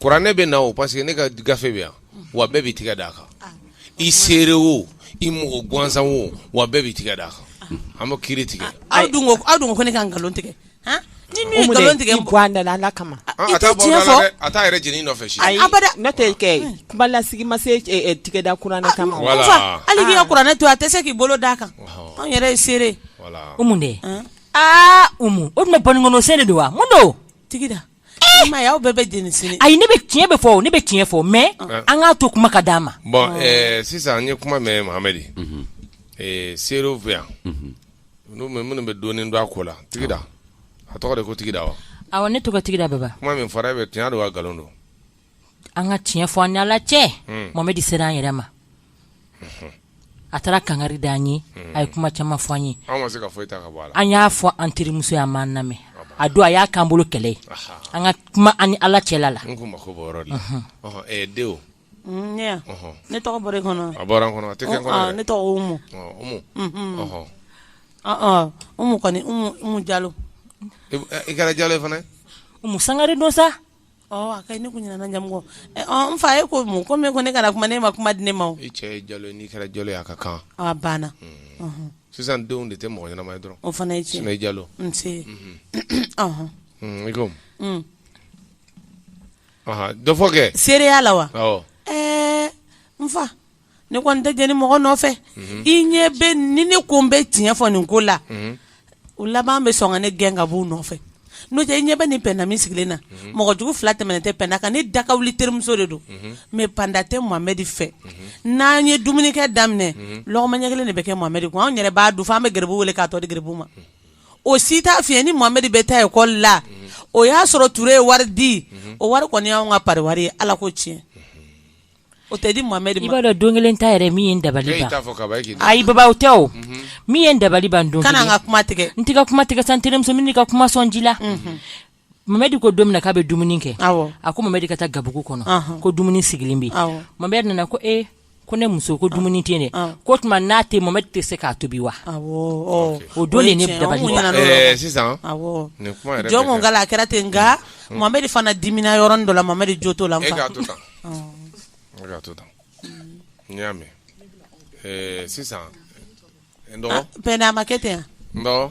Kuranɛ bɛ na o parce que ne ka gafe bɛ yan wa bɛɛ b'i tigɛ d'a kan i seere o i mɔgɔ gansan o wa bɛɛ b'i tigɛ d'a kan an bɛ kiiri tigɛ aw aw ko ne ka nkalon tigɛ nkalon tigɛ ala kama a t'a yɛrɛ jeni nɔfɛ tɛ lasigi ma se tigɛda kuranɛ kama hali k'i ka kuranɛ to a tɛ se k'i bolo d'a kan anw yɛrɛ ye seere umu de aaa o tun bɛ bamkɔnɔsɛ de don wa mun don tigida Aw bɛɛ bɛ ayi ne bɛ tiɲɛ bɛ fɔ ne bɛ tiɲɛ fɔ mais an k'a to kuma ka d'a ma bon sisan an ye kuma mɛn mohamɛdi seerew fɛ yan minnu bɛ dɔɔnin dɔn a ko la tigida a tɔgɔ de ko tigida wa ne tɔgɔ tigida bɛ kuma min fɔra bɛɛ tiɲɛ don wa nkalon don an ka tiɲɛ fɔ an ni ala cɛ hmm. mohamɛdi sera an yɛrɛ ma hmm. a taara kangari da an ye hmm. a ye kuma caman fɔ an ye an y'a fɔ an terimuso ye a m'an lamɛn a don a y'a k'an bolo kɛlɛ ye an ka kuma an ni ala cɛla la ne tɔgɔ bɔra i kɔnɔ a bɔra n kɔnɔ a tɛ kɛ n kɔnɔ ah, ne tɔgɔ umu umu ɔhɔ ɔhɔ umu kɔni umu umu jalo i kɛra jalo ye fana umu sangare don sa A ka ɲi ne kun ɲinɛna jamu kɔ n fa e ko mun ko min ko ne kana kuma ne ma kuma di ne ma o i cɛ ye jalo ye n'i kɛra jalo ye a ka kan a banna sisan denw de tɛ mɔgɔ ɲɛnama ye dɔrɔn o fana ye tiɲɛ jalo nse dɔ fɔ kɛ seereya la wa ɛɛ n fa ne kɔni tɛ jeni mɔgɔ nɔfɛ i ɲɛ bɛ ni ne ko n bɛ tiɲɛ fɔ nin ko la o laban bɛ sɔn ka ne gɛn ka b'u nɔfɛ n'o tɛ i ɲɛ bɛ nin pɛnda min sigilen na mɔgɔ jugu fila tɛmɛnen tɛ pɛnda kan ne da ka wuli terimuso de don mais pɛnda tɛ mohamɛdi fɛ n'an ye dumunikɛ daminɛ lɔgɔma ɲɛ kelen de bɛ kɛ mohamɛdi kun an yɛrɛ b'a dun fo an bɛ garibu wele k'a tɔ di garibu ma o si t'a fiɲɛ ni mohamɛdi bɛ taa ekɔli la o y'a sɔrɔ ture ye wari di o wari kɔni y'an ka pari wari ye ala ko tiɲɛ O tɛ di mohamɛdi ma i b'a dɔn don kelen ta yɛrɛ min ye n dabali ban ayi baba tɛ o min ye n dabali ban don kana n ka kuma tigɛ n tɛ kuma tigɛ sa n terimuso min ka kuma sɔn ji la mohamɛdi ko don min na k'a bɛ dumuni kɛ a ko mohamɛdi ka taa gabugu kɔnɔ ko dumuni sigilen bɛ yen mohamɛdi nana ko e ko ne muso ko dumuni tɛ dɛ ko tuma n'a tɛ mohamɛdi tɛ se k'a tobi wa o don ne sisan jɔn a kɛra ten n nka mohamɛdi fana dimina yɔrɔ dɔ la mohamɛdi jo t'o la K'a to tan n y'a mɛn sisan n dɔgɔ pɛnda a ma kɛ ten n dɔgɔ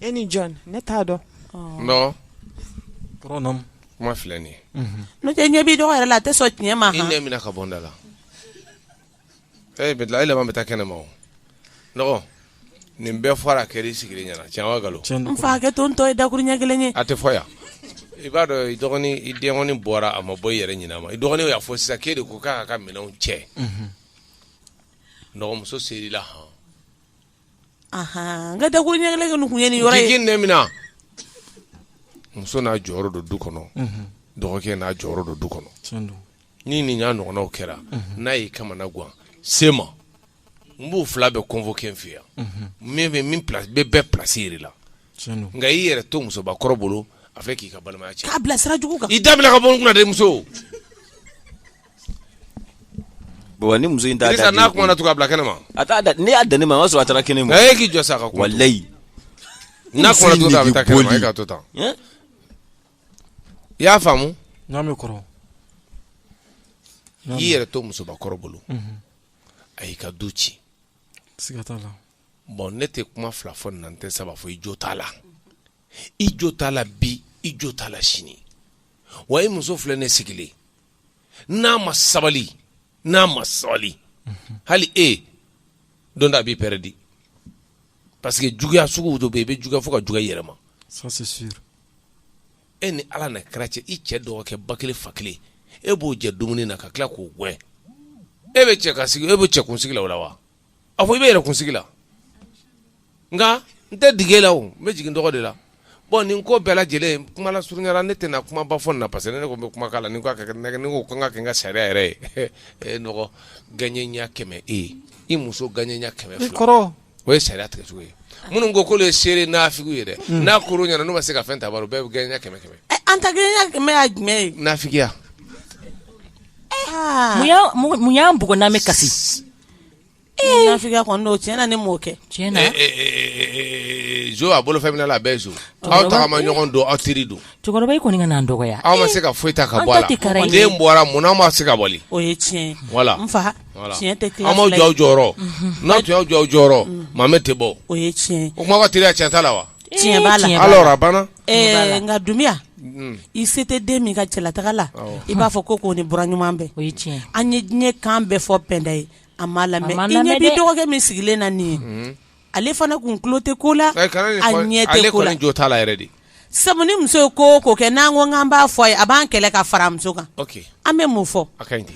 e ni jɔn ne t'a dɔn n dɔgɔ kuma filɛ nin ye n'o tɛ ɲɛ b'i dɔgɔ yɛrɛ la a tɛ sɔn tiɲɛ ma i nɛn mina ka bɔ n da la ee bɛ dilan e laban bɛ taa kɛnɛ ma dɔgɔ nin bɛɛ fɔra a kɛra i sigilen ɲɛna tiɲɛ wa nkalon n fa hakɛ to n tɔ ye dakurun ɲɛ kelen ye a tɛ fɔ yan i b'a dɔn i dɔgɔnin i dɔgɔnin bɔra a ma bɔ i yɛrɛ ɲɛna ma i dɔgɔnin y'a fɔ sisan k'e de ko k'a ka minɛnw cɛ dɔgɔmuso ser'i la hɔn n ka dakurun ɲɛ kelen kun ye nin yɔrɔ ye k'i nɛn mina muso n'a jɔyɔrɔ don du kɔnɔ dɔgɔkɛ n'a jɔyɔrɔ don du kɔnɔ ni nin y'a ɲɔgɔnnaw kɛra n'a y'i kamana gan se n ma n b'u fila bɛɛ convoquer n fɛ yan min bɛ min bɛ bɛɛ plasi yir'a la nka i yɛrɛ to musobakɔrɔ bolo a fɛ k'i ka balimaya cɛ k'a bila sira jugu kan i da ka bɔ n kunna dɛ muso bon ni muso in t'a da n'a kumana tugun a bila kɛnɛ ma a t'a da n'i y'a dan ne ma o y'a sɔrɔ a taara kɛnɛ ma e k'i jɔ sa ka kuma walayi n'a kumana tugun a bɛ taa kɛnɛ ma e k'a to tan i y'a faamu n'a bɛ kɔrɔ i y'i yɛrɛ to musobakɔrɔ bolo a y'i ka du ci siga t'a la bon ne tɛ kuma fila fɔ nin na n tɛ saba fɔ i jo t'a la i jo t'a la bi i jo t'a la sini wa i muso filɛ ne sigilen n'a ma sabali n'a ma sabali hali e don dɔ a b'i pɛrɛdi parce que juguya sugu dɔ bɛ yen i bɛ juguya fo ka juguya i yɛrɛ ma ça c'est sûr e ni ala n'a kira cɛ i cɛ dɔgɔkɛ ba kelen fa kelen e b'o jɛ dumuni na ka tila k'o gɛn e bɛ cɛ kunsigi la o la wa a fɔ i bɛ yɛrɛ kunsigi la nka n tɛ digi e la o n bɛ jigi n dɔgɔ de la bon nin ko bɛɛ lajɛlen kuma lasurunya la ne tɛna kuma ba fɔ nin na parce que ne ko n bɛ kuma la ni ka kɛ ne ko kan ka kɛ n ka sariya yɛrɛ ye e dɔgɔ gɛɲɛ ɲɛ kɛmɛ e ye i muso gɛɲɛ ɲɛ kɛmɛ kɔrɔ o ye sariya tigɛ cogo ye minnu ko k'olu ye seere nafigiw ye dɛ hmm. n'a kɛr'u ɲɛ na n'u ma se ka fɛn ta bɔ a rɔ bɛɛ bɛ gɛɲɛ ɲɛ kɛmɛ kɛmɛ eh, an ta gɛɲɛ ɲɛ kɛmɛ ye jumɛn ye nafigiya ah. mun y'an bugɔ n'an bɛ kasi eh. nafigiya kɔni don tiɲɛ na ne m'o kɛ tiɲɛ na eh, zo a bolo fɛn min na a bɛɛ ye zo aw tagama ɲɔgɔn don aw teri don cɛkɔrɔba i kɔni kan'an dɔgɔya aw ma se ka foyi ta ka bɔ a la den bɔra mun na aw ma se k'a bali o ye tiɲɛ ye voilà n fa Tiɲɛ tɛ tila fila ye, aw m'aw jɔ aw jɔyɔrɔ, unhun, n'aw tun y'aw jɔ aw jɔyɔrɔ Muhamɛdi tɛ bɔ, o ye tiɲɛ ye, o kuma ka teli tiɲɛ t'a la wa, tiɲɛ b'a la, alors a banna, ɛɛ nka Dunbiya i se tɛ den min ka cɛlataga la i b'a fɔ ko k'o ni buran ɲuman bɛn, o ye tiɲɛ ye, an ye diɲɛ kan bɛɛ fɔ Pɛnda ye a m'a lamɛn, a m'a lamɛn dɛ, i ɲɛ b'i dɔgɔkɛ min sigilen na nin ye, unhun, ale fana kun tulo tɛ ko la, a ɲɛ tɛ ko la, ale kɔni jo t'a la yɛrɛ de, sabu ni muso ye ko o ko kɛ n'an ko k'an b'a fɔ a ye a b'an kɛlɛ ka fara a muso kan, ok, an bɛ mun fɔ, a ka ɲi ten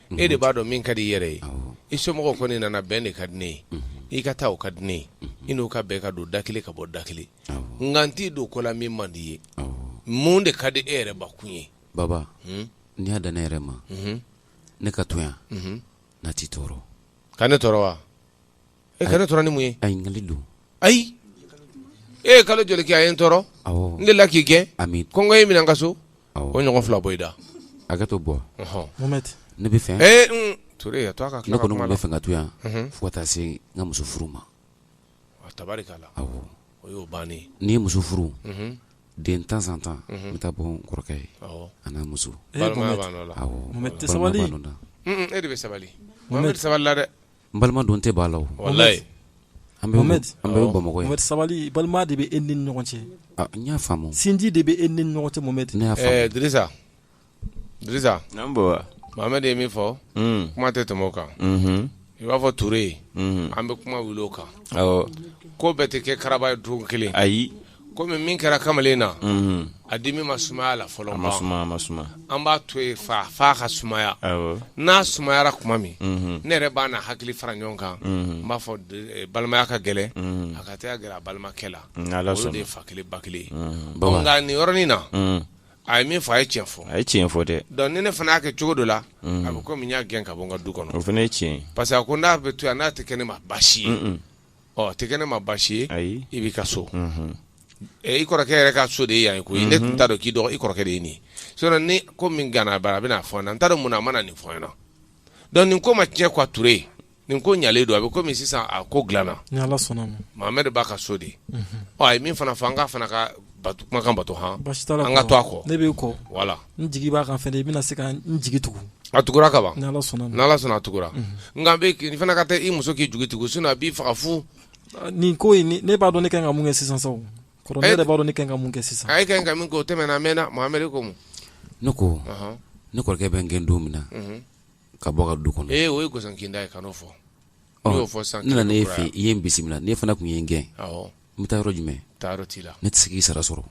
e de b'a dɔn min ka di i yɛrɛ ye i somɔgɔw kɔni nana bɛn de ka di ne ye i ka taa o ka di ne ye i n'u ka bɛn ka don da kelen ka bɔ da kelen nka n t'i don ko la min man di i ye mun de ka di e yɛrɛ bakun ye baba n'i y'a dan ne yɛrɛ ma ne ka to yan n'a t'i tɔɔrɔ ka ne tɔɔrɔ wa e ka ne tɔɔrɔ ni mun ye a ɲininkali don ayi e ye kalo joli kɛ a ye n tɔɔrɔ awɔ n delila k'i gɛn ayi kɔngɔ y'i minɛ n ka so o awɔ ɲɔgɔn fila bɔ i da hakɛ to bɔ ɔhɔn. Mohamed ne b'a fɛ ee n Ture a to a ka ne tila ka kɔni kuma tun la b'a fɛ ka to yan Mhm. fo ka taa se n ka muso furu ma Wa tabarikala awɔ o y'o bannen ye. n'i ye muso furu Mhm. de temps en temps n bɛ taa bɔ n kɔrɔkɛ ye awɔ a n'a muso Eh, balimaya Mohamed. b'a nɔ la awɔ Mohamed tɛ balimaya sabali. b'a nɔ na. Mm, mm, e de bɛ sabali Mohamed. Mohamed sabalila dɛ N balima don tɛ b'a la o walayi an bɛ Mohamed sabali balima de bɛ e ni ɲɔgɔn cɛ n y'a faamu sinji de bɛ e ni ɲɔgɔn cɛ Mohamed ne y'a faamu Dirisa Mohamed ye min fɔ kuma tɛ tɛmɛ o kan i b'a fɔ Ture an bɛ kuma wuli o kan ko bɛɛ tɛ kɛ karaba ye don kelen ayi Kɔmi min kɛra kamalen na a dimi ma sumaya la fɔlɔ an b'a to yen fo a ka sumaya n'a sumayara tuma min ne yɛrɛ bɛna hakili fara ɲɔgɔn kan n b'a fɔ balimaya ka gɛlɛn a ka taa gɛrɛ a balimakɛ la olu de ye fa kelen ba kelen nka nin yɔrɔnin na a ye min fɔ a ye cɛn fɔ a ye tiɲɛ fɔ dɛ donc ni ne fana y'a kɛ cogo dɔ la a bɛ komi n y'a gɛn ka bɔ n ka du kɔnɔ o fana ye tiɲɛ parce que a ko n'a bɛ to yan n'a tɛ kɛ ne ma baasi ye o tɛ kɛ ne ma baasi ye ayi i b'i ka so unhun ɛ i kɔrɔkɛ yɛrɛ ka so de ye yan ye koyi ne tun t'a dɔn k'i dɔgɔ i kɔrɔkɛ de ye nin ye sinon ni ko min ganna a bara a bɛ na a fɔ n ɲɛna n t'a dɔn mun na a ma na nin fɔ n ɲɛna donc nin ko ma tiɲɛ quoi Ture nin ko ɲalen don a bɛ komi sisan a ko dilanna ni ala sɔnna a ma Mohamɛdi b'a ka so de ɔ a ye min fana fɔ an k'a fana ka kumakan bato han baasi tɛ an ka to a kɔ ne b'i kɔ voilà n jigi b'a kan fɛnɛ i bɛna se ka n jigi tugu a tugura ka ban ni ala sɔnna a tugura nka bɛ fana ka taa i muso k'i jigi tugu sinon a b'i faga fu nin ko in ne b'a dɔn ne kan ka mun kɛ sisan sa kɔrɔ ne b'a dɔn ne kan ka mun kɛ sisan ayi e kan ka min kɛ o tɛmɛna a mɛnna Mohamɛdi ko mun ne ko ne kɔrɔkɛ bɛ n gɛn don min na ka bɔ a ka du kɔnɔ ee o ye gɔsɔnkinda ye kan'o fɔ n'i y'o fɔ sisan ne nana e fɛ i ye n bisimila n'e fana tun ye n gɛn n bɛ taa yɔrɔ jumɛn taa yɔrɔ t'i la ne tɛ se k'i sara sɔrɔ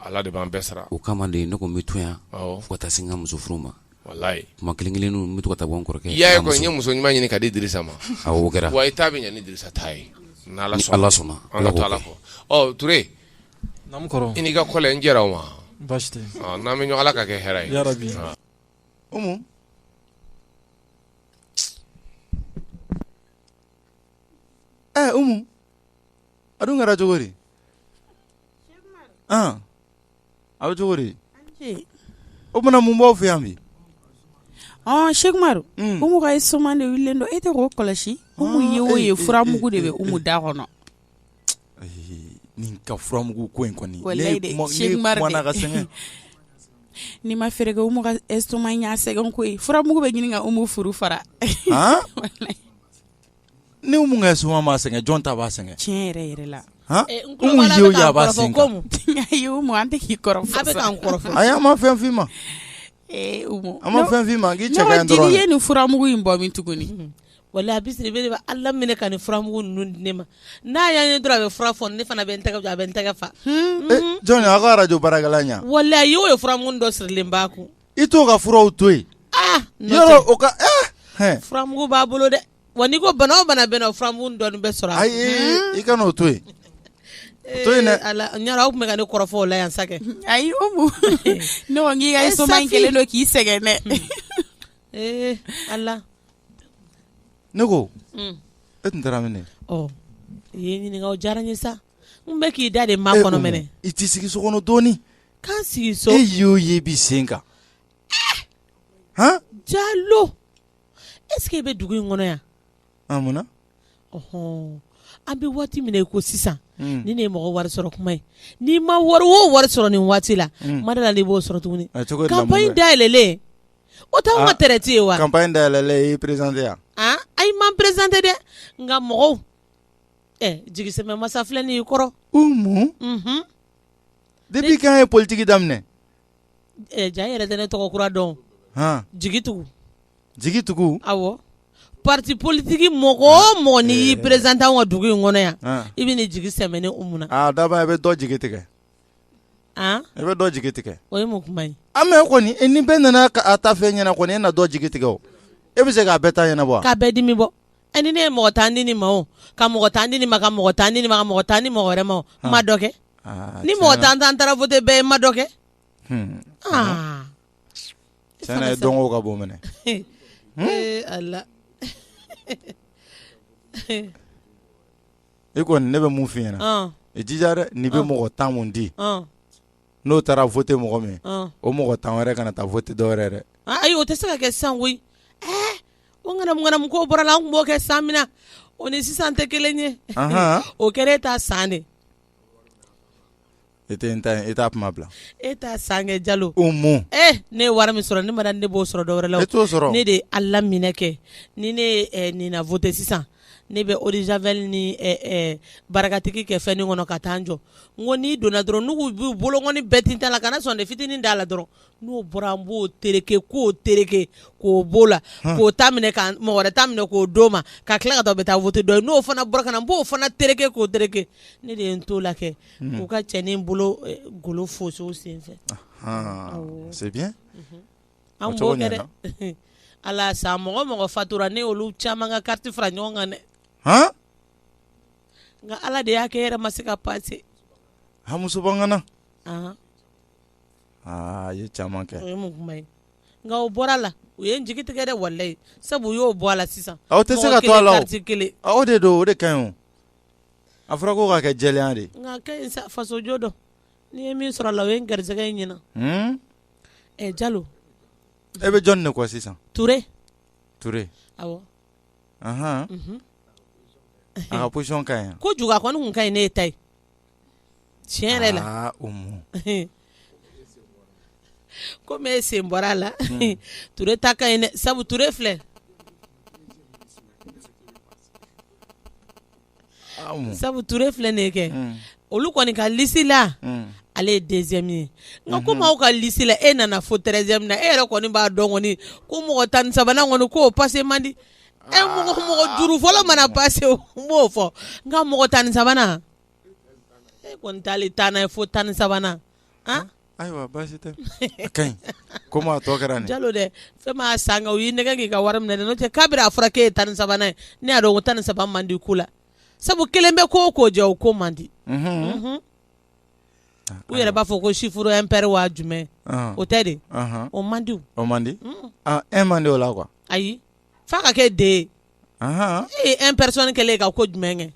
ala de b'an bɛɛ sara o kama de ne ko n bɛ to yan fo ka taa se n ka muso furu ma walayi kuma kelen kelen n bɛ to ka taa bɔ n kɔrɔkɛ ye n ye muso ɲuman ɲini ka di Dirisa ma a kɛra wa i ta bɛ ɲɛ ni Dirisa ta ye ni ala sɔnna an ka to ala kɔ Ture i n'i ka kɔlɛ n jɛra o ma n'an bɛ ɲɔgɔn ala k'a kɛ hɛrɛ ye ɛ Umu a dun kɛra cogo di an a bɛ cogo di o tuma na mun b'aw fɛ yan bi ɔ Sɛki Umaru Umu ka estomac de wulilen don e tɛ k'o kɔlɔsi Umu ye o ye furamugu de bɛ Umu da kɔnɔ nin ka furamugu ko in kɔni Sɛki Umaru n'i ma fɛɛrɛ kɛ Umu ka estomac y'a sɛgɛn ko furamugu bɛ ɲini ka Umu furu fara ni Umu ka estomac m'a sɛgɛn jɔn ta b'a sɛgɛn tiɲɛ yɛrɛ yɛrɛ la an tɛ k'i kɔrɔfɔ ayi an ma fɛn f'i ma an ma fɛn f'i ma k'i cɛ ka ɲi dɔrɔn e ye nin furamugu in bɔ min tuguni Wala Basiri bɛ ala minɛ ka nin furamugu ninnu di ne ma n'a y'a ye dɔrɔn a bɛ fura fɔ ne fana bɛ n tɛgɛ jɔ a bɛ n tɛgɛ fa jɔn a ko arajo baarakɛla voilà a y'o ye furamugu dɔ sirilen b'a kun i t'o ka furaw to yen aa o ka furamugu b'a bolo dɛ wa n'i ko bana o bana bɛ n na o furamugu dɔɔnin bɛ sɔrɔ ayi i kan'o to yen to yen aw tun bɛ ka ne kɔrɔfɔ o la yan sa ayi k'i ka estomac kɛlen don k'i sɛgɛn dɛ Ee ala ne ko e tun taara min i ye n ɲininka o diyara n ye sa n bɛ k'i da de makɔnɔ minɛ i t'i sigi so kɔnɔ dɔɔnin ka n sigi so e y'o ye i b'i sen kan Jalo est-ce que i bɛ dugu in kɔnɔ yan munna an bɛ waati min na i ko sisan ni ne ye mɔgɔ wari sɔrɔ kuma ye n'i ma wari o wari sɔrɔ nin waati la ma da la n'i b'o sɔrɔ tuguni campagne da yɛlɛlen o t'anw ka traite ye wa campagne da yɛlɛlen i y'i présenté yan ayi ma présenté dɛ nka mɔgɔw jigisɛmɛ masa filɛ nin y'i kɔrɔ depuis quand ye politigi daminɛ Ja yɛrɛ tɛ ne tɔgɔ kura dɔn jigitugu jigitugu awɔ pati politigi mɔgɔ o mɔgɔ n'i y'i présenté an ka dugu in kɔnɔ yan i bɛ n'i jigi sɛmɛ ne Umu na daba i bɛ dɔ jigi tigɛ i bɛ dɔ jigi tigɛ o ye mun kuma ye mais kɔni ni bɛɛ nana a ta fɛn ɲɛna kɔni e na dɔ jigi tigɛ e bɛ se k'a bɛɛ ta ɲɛnabɔ k'a bɛɛ dimi bɔ E ni ne ye mɔgɔ tan ni ni ma ka mɔgɔ tan ni ni ma ka mɔgɔ tan ni ma mɔgɔ tan ni mɔgɔ wɛrɛ ma ma dɔ kɛ ni mɔgɔ tan tan taara fɔ tɛ bɛɛ ye ma dɔ kɛ ye dɔn ka bɔ minɛ e ko ne bɛ mun f i ɲɛna i jija dɛ ni bɛ mɔgɔ tan di n'o taara voter mɔgɔ min o mɔgɔ tan wɛrɛ kana taa voter dɔ wɛrɛ dɛ ayi o tɛ se ka kɛ sisan koyi o ŋanamu ko bɔra la an tun b'o kɛ san min na o ni sisan tɛ kelen ye o kɛra e ta san de e tɛ n ta e t'a kuma bila e t'a san kɛ Jalo Umu ne ye wari min sɔrɔ ne ma da ne b'o sɔrɔ dɔ wɛrɛ la e t'o sɔrɔ ne de ye ala laminɛ kɛ ni ne nin na voter sisan ne bɛ eau de javel ni barikatigi kɛ fɛn kɔnɔ ka taa n jɔ n ko n'i donna dɔrɔn n'u b'u bolokɔni bɛɛ tintin a la kana sɔn dɛ fitinin d'a la dɔrɔn n'o bɔra n b'o tereke k'o tereke k'o b'o la ka mɔgɔ wɛrɛ ta minɛ k'o d'o ma ka tila k'a to bɛ taa voter dɔ ye n'o fana bɔra ka na n b'o fana tereke k'o tereke ne de ye n t'o la kɛ k'u ka cɛnin bolo golo fosi o senfɛ halisa mɔgɔ o mɔgɔ fatura ne olu caman ka carte fara ɲɔgɔn kan dɛ nka ala de y'a kɛ yɛrɛ ma se ka passer muso na aa ye caman kɛ nka o bɔra la u ye n jigi tigɛ dɛ walayi sabu u y'o bɔ a la sisan aw tɛ se ka to a la kelen aw de don o de ka ɲi a fɔra ko k'a kɛ jɛlenya de nka fasojɔ don n'i ye min sɔrɔ a la o ye n garisɛgɛ in ɲɛna Ɛ Jalo e bɛ jɔn de kɔ sisan Ture Ture awɔ a ka position ka ɲi kojugu a kɔni kun ka ɲi ne ta ye tiɲɛ yɛrɛ la o kɔmi e sen bɔra a la Ture ta ka ɲi sabu Ture filɛ sabu Ture filɛ nin ye kɛ olu kɔni ka lisi la ale ye deuxième ye nka komi aw ka lisi la e nana fo treizième na e yɛrɛ kɔni b'a dɔn ko mɔgɔ tan ni sabanan kɔni ko o pase man di e mɔgɔ mɔgɔ duuru fɔlɔ mana pase n b'o fɔ nka mɔgɔ tan ni sabanan e kɔni taalen taa n'a ye fo tan ni sabanan Ayiwa baasi tɛ a ka ɲi komi a tɔ kɛra jalo dɛ fɛn m'a san u y'i nɛgɛn k'i ka wari minɛ n'o tɛ kabiri a fɔra k'e ye tan ni sabanan ye ne y'a dɔn ko tan ni saba man di ko la sabu kelen bɛ ko o ko jɛ o ko man di u yɛrɛ b'a fɔ ko chiffre impair wa jumɛn o tɛ de o man di o man di un man di o la quoi ayi f'a ka kɛ deux ye un personne kɛlen ka ko jumɛn kɛ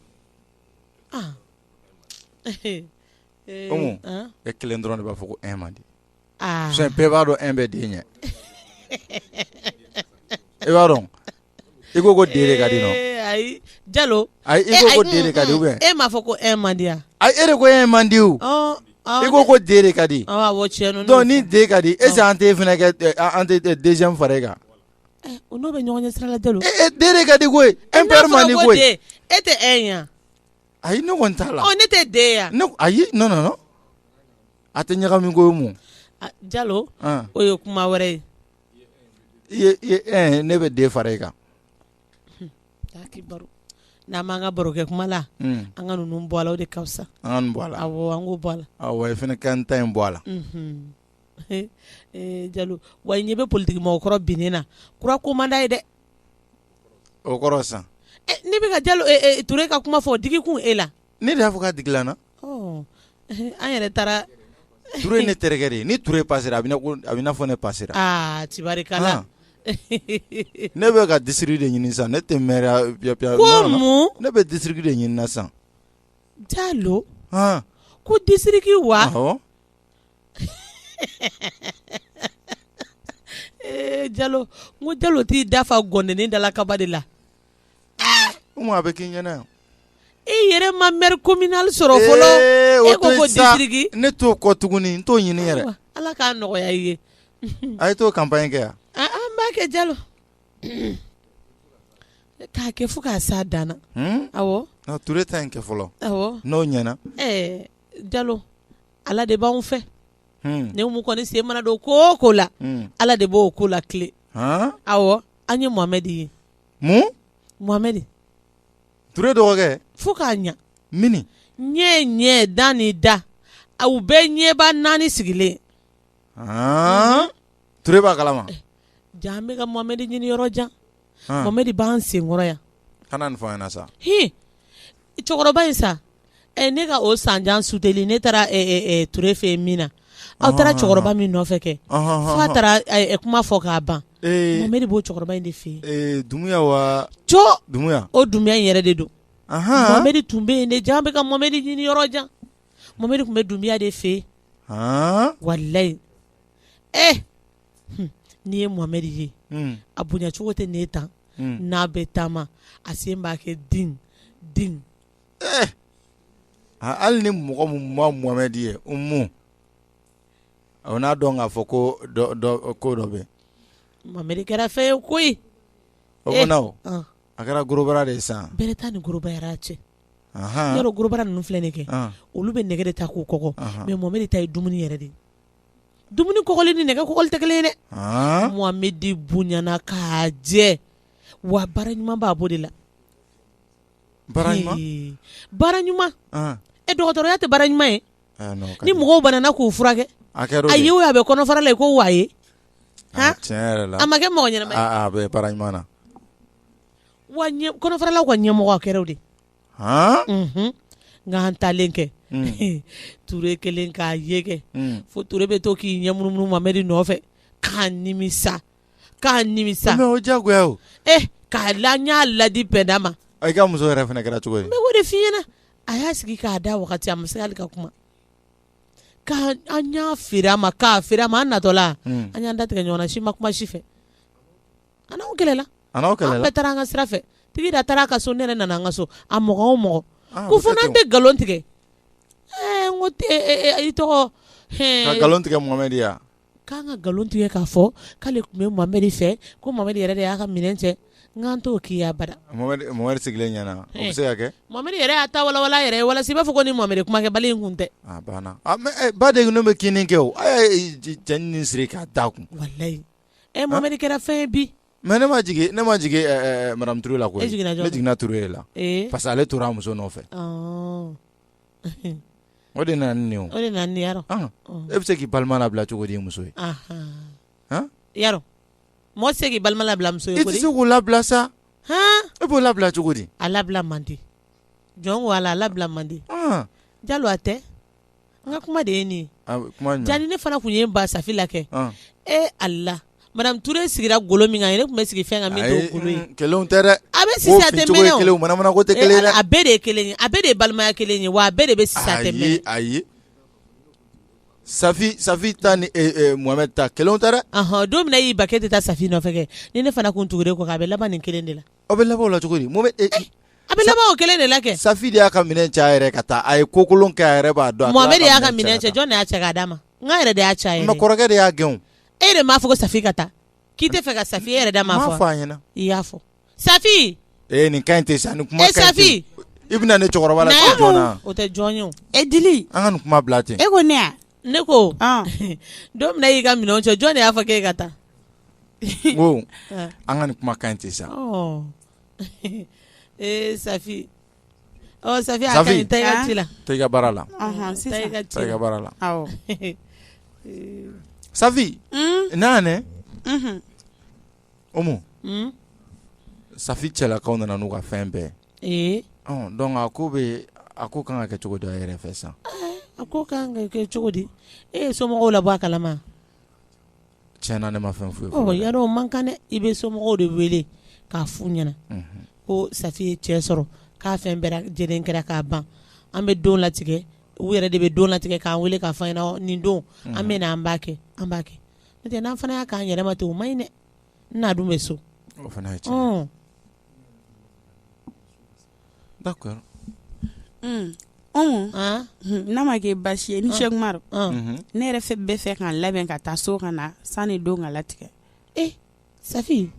e kelen dɔrɔn de b'a fɔ ko un man di bɛɛ b'a dɔn un bɛ deux ɲɛ e b'a dɔn i ko ko deux ka di ayi jalo ayi e ko deux ka di e m'a fɔ ko un man di yan a e de ko un man di i ko ko deux ka di ni deux ka di est-ce que an tɛ an tɛ deux fara e kan eh, o n'o bɛ ɲɔgɔn sira la deux ka di koyi impair man di koyi e tɛ un ye ayi ne kɔni t'a la ɔ ne tɛ deux ye wa ne ko ayi non non non a tɛ ɲagami koyi mun a Jalo an o ye kuma wɛrɛ ye i ye i ye ɛɛ ne bɛ deux fara i kan Ala ki baro n'an m'an ka baro kɛ kuma la un an ka ninnu bɔ a la o de ka fisa an ka nin bɔ a la awɔ an k'o bɔ a la awɔ i fana ka n ta in bɔ a la unhun ee Jalo wa i ɲɛ bɛ politiki mɔgɔkɔrɔ binnen na kura ko man d'a ye dɛ o kɔrɔ sisan ne bɛ ka jalo Ture ka kuma fɔ o digi kun e la ne de y'a fɔ k'a digila n na ɔ an yɛrɛ taara Ture ye ne terikɛ de ye ni Ture pasera a bɛ a bɛ i n'a fɔ ne pasera aa tibarikala ne bɛ ka disiriki de ɲini sisan ne tɛ maire piya piya ko mun ne bɛ disiriki de ɲini na sisan jalo ko disiriki wa awɔ jalo jalo t'i dafa gɔndɛni dala kaba de la a bɛ k'i ɲɛna e yɛrɛ ma maire communal sɔrɔ fɔlɔ e ko disiriki ne t'o kɔ tuguni n t'o ɲini yɛrɛ ala k'a nɔgɔya i ye a ye t'o campagne kɛ yan an b'a kɛ jalo k'a kɛ fo k'a s'a dan na Ture ta in kɛ fɔlɔ n'o ɲɛna jalo ala de b'anw fɛ ne mun kɔni sen mana don ko o ko la ala de b'o ko latilen awɔ an ye Mohamɛd ye mun Mohamɛd Ture dɔgɔkɛ fo k'a ɲɛ mini ɲɛ ɲɛ da ni da aw bɛɛ ɲɛba naani sigilen Ture b'a kalama jaa an bɛ ka Mohamɛd ɲini yɔrɔ jan Mohamed b'an senkɔrɔ yan kana sa h cɛkɔrɔba in sa ɛ ne ka o san jan suteli ne taara toure fɛ min na aw taara cɛkɔrɔba min nɔfɛ kɛ f'a taara kuma fɔ k'a ban Mohamed b'o cɛkɔrɔba in de fɛ yen o Dumuya in yɛrɛ de don Mohamed tun bɛ yen de ja an bɛ ka Mohamed ɲini yɔrɔ jan Mohamed tun bɛ Dumuya de fɛ yen walayi ɛ n'i ye Mohamed ye, un, a bonya cogo tɛ n'e ta ye, n'a bɛ taama a sen b'a kɛ ding ding ee, aa hali ni mɔgɔ min ma Mohamed ye Umu, o n'a dɔn k'a fɔ ko dɔ dɔ ko dɔ bɛ yen, Mohamed kɛra fɛn ye koyi, o tuma na o, ɔn, a kɛra gorobara de ye sa, bɛrɛ t'a ni gorobara cɛ, anhan, i y'a dɔn gorobara ninnu filɛ nin ye kɛ, ɔn, olu bɛ nɛgɛ de ta k'u kɔgɔ, anhan, mais Mohamed ta ye dumuni yɛrɛ de ye dumuni kɔgɔli ni nɛgɛ kɔgɔli tɛ kelen ye dɛ Mohamed bonyana ka jɛ wa baara ɲuman b'a bɔ de la baara ɲuman e dɔgɔtɔrɔya tɛ baara ɲuman ye ni mɔgɔw banana k'u furakɛ a ye o a bɛ kɔnɔfara la ko wa ye a ma kɛ mɔgɔ ɲɛnama ye a bɛ baara ɲuman na wa kɔnɔfaralaw ka ɲɛmɔgɔ kɛra de nka an taalen kɛ Ture kelen k'a ye kɛ fo Ture bɛ to k'i ɲɛ munumunu Mohamed nɔfɛ k'a nimisa k'a nimisa mais o jago o k'a la n y'a ladi Penda ma i ka muso yɛrɛ fana kɛra cogo ye o de f'i ɲɛna a y'a sigi k'a da wagati a ma se hali ka kuma k'an y'a feere a ma k'a feere a ma an natɔla an y'an da tigɛ ɲɔgɔn na si ma kuma si fɛ A n'aw kɛlɛla, a n'aw kɛlɛla, an bɛɛ taara an ka sira fɛ, Tigida taara a ka so ne yɛrɛ nana an ka so, a mɔgɔ o mɔgɔ, aa, ko fo n'an tɛ nkalon tigɛ, ɛɛ n ko i tɔgɔ, ɛɛ, ka nkalon tigɛ Mohamɛdi ye wa, k'an ka nkalon tigɛ k'a fɔ k'ale tun bɛ Mohamɛdi fɛ ko Mohamɛdi yɛrɛ de y'a ka minɛn cɛn n k'an t'o k'i ye abada, Mohamɛdi sigilen ɲɛna, o bɛ se ka kɛ, Mohamɛdi yɛrɛ y'a ta walawala a yɛrɛ ye walasa i b'a fɔ ko ni Mohamɛdi kumakɛbali in tun tɛ, a banna, ɔ mais baden ninnu bɛ kinni kɛ o, a y'a ye cɛnin nin siri k'a d'a kun, walahi ɛ Mohamɛdi kɛra fɛn ye bi. Mais ne ma jigin ne ma jigin ɛɛ madame Ture la koyi. E jiginna jɔni na? Ne jiginna Ture de la. Ee. Parce que ale tora a muso nɔfɛ. Ɔɔ. O de nana ni nin ye o. O de nana ni nin ye yarɔ. Ɔn! E bɛ se k'i balima labila cogo di i muso ye? Anhan! Han! Yarɔ! Mɔgɔ tɛ se k'i balima labila muso ye koyi. I tɛ se k'o labila sa. Han! E b'o labila cogo di? A labila man di. Jɔn ko Ala, a labila man di. Ɔn! Jalo a tɛ? N ka kuma de ye nin ye, a bɛ kuma ɲɛ, jaa ni ne fana tun ye n ban Safi la kɛ, ɔn, e Ala madame Ture sigira golo min kan yen, ne tun bɛ sigi fɛn kan min t'o golo ye, ayi kelenw tɛ dɛ, a bɛ sisi a tɛ mɛnɛ o, manamana ko tɛ kelen ye dɛ, a bɛɛ de ye kelen ye, a bɛɛ de ye balimaya kelen ye wa a bɛɛ de bɛ sisi a tɛ mɛnɛ, ayi ayi Safi Safi ta ni Mohamɛdi ta kelenw tɛ dɛ, ɔnhɔn, don min na e y'i ban k'e tɛ taa Safi nɔfɛ kɛ, ni ne fana tun tugura e kɔ a bɛ laban nin kelen de la Aw bɛ laban o la cogo di? Mohamed. A bɛ laban o kelen de la kɛ. Safi de y'a ka minɛn cɛ a yɛrɛ ye ka taa. A ye ko kolon kɛ a yɛrɛ b'a dɔn. Mohamed de y'a ka minɛn cɛ. Jɔn de y'a cɛ k'a d'a ma? N k'a yɛrɛ de y'a cɛ a yɛrɛ ye. Mais kɔrɔkɛ de y'a gɛn o. E de m'a fɔ ko Safi ka taa? K'i tɛ fɛ ka Safi ye, e yɛrɛ da m'a fɔ wa? N m'a fɔ a ɲɛna. I y'a fɔ. Safi! Ee nin ka ɲi ten sa, nin kuma ka ɲi ten. E Safi! I bɛna ne cɛkɔrɔba lasiga jɔn na. Na yan. O tɛ jɔn ye o. E Dili! An ka nin kuma bila ten. E ko ne wa? Ne ko don min y'i ka minɛn cɛ jɔn de y'a fɔ e ka taa ko an ka nin kuma kan tɛ sa ee sa sa la bara la bara la sa n'a Umu, un, Safi cɛlakaw nana n'u ka fɛn bɛɛ ye, ee, ɔ donc a ko bɛ, a ko ka kan ka kɛ cogo di a yɛrɛ fɛ sisan, ee, a ko ka kan ka kɛ cogo di e ye somɔgɔw labɔ a kalama wa, tiɲɛ na ne ma fɛn foyi fɔ, ɔ y'a dɔn o man kan dɛ, i bɛ somɔgɔw de wele k'a f'u ɲɛna, unhun, ko Safi ye cɛ sɔrɔ k'a fɛn bɛɛ lajɛlen kɛra k'a ban an bɛ don latigɛ u yɛrɛ de bɛ don latigɛ k'an wele k'a fɔ an ɲɛna nin don an bɛ na an b'a kɛ an b'a kɛ n'o tɛ n'an fana y'a k'an yɛrɛ ma ten o man ɲi dɛ n'a dun bɛ so o fana ye tiɲɛ d'accord n'a ma kɛ basi ye ni Cheikh Umaru ne yɛrɛ bɛ fɛ k'an labɛn ka taa so ka na sani don ka latigɛ ee Safi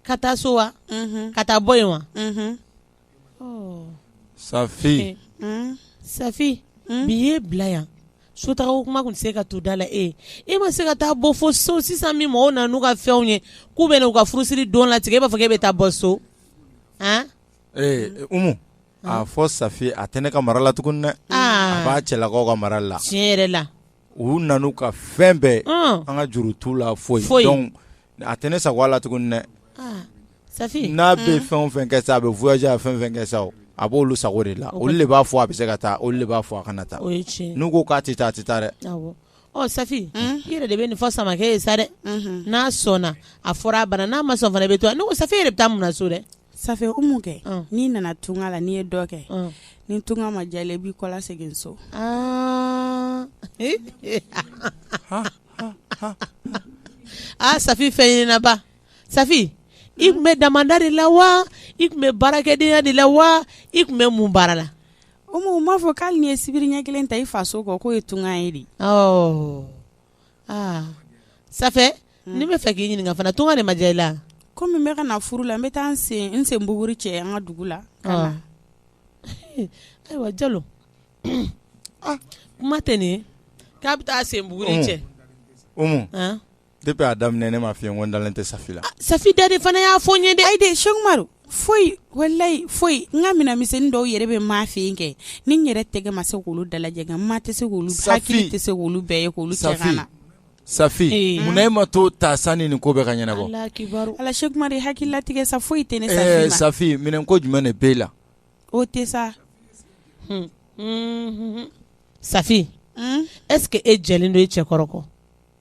ka taa so wa ka taa bɔ yen wa Safi Safi bi y'e bila yan sotaa ko kuma tun tɛ se ka to da la e e ma se ka taa bɔ fo so sisan min mɔgɔw nana n'u ka fɛnw ye k'u bɛna u ka furusiri don latigɛ e b'a fɔ k'e bɛ taa bɔ so a fɔ Safi a tɛ ne ka mara la tuguni dɛ a b'a cɛlakaw ka mara la tiɲɛ yɛrɛ la u nana n'u ka fɛn bɛɛ an ka juru t'u la foyi donc a tɛ ne sago la tuguni dɛ Safi n'a bɛ fɛn o fɛn kɛ sa a bɛ voyager fɛn o fɛn kɛ sa a b'olu sago de la olu de b'a fɔ a bɛ se ka taa olu de b'a fɔ a kana taa n'u ko k'a tɛ taa a tɛ taa dɛ ɔ safi i yɛrɛ de bɛ nin fɔ samakɛ ye sa dɛ n'a sɔnna a fɔra a bana n'a ma sɔn fana i bɛ to a ne ko Safi yɛrɛ bɛ taa mun so dɛ Safi Umu kɛ n'i nana tunga la n'i ye dɔ kɛ ni tunga ma diya i la i b'i kɔ lasegin so aa Safi fɛnɲininaba Safi i tun bɛ damanda de la wa i tun bɛ baarakɛdenya de la wa i tun bɛ mun baara la Umu m'a fɔ k'ali n'i ye sibiri ɲɛ kelen ta i faso kɔ k'o ye tunga ye de aa safi hmm. ne bɛ fɛ k'i ɲininka fana tunga de ma diya i la komi n bɛ ka na furu la n bɛ taa n sen buguri cɛ an ka dugu la ka na ayiwa jalo ah. kuma tɛ nin ye k'a bɛ taa sen buguri cɛ umu depuis a daminɛ ne m'a f'i ye n ko n dalen tɛ safi la ah, safi da de fana y'a fɔ n ye dɛ ayi de Sɛki Umaru foyi walayi foyi n ka minɛn misɛnnin dɔw yɛrɛ bɛ maa fɛ yen kɛ ni n yɛrɛ tɛgɛ ma se k'olu dalajɛ nka maa tɛ se k'olu bɛɛ hakili tɛ se k'olu bɛɛ ye k'olu cɛ ka na Safi ee mun na e ma t'o ta sani nin ko bɛɛ ka ɲɛnabɔ Ala akibaru Ala Sɛki Umaru i hakili latigɛ sa foyi tɛ ne Safi ma ee Safi minɛn ko jumɛn de b'e la o tɛ sa Safi est-ce que e jɛlen don i cɛ kɔrɔ kɔ.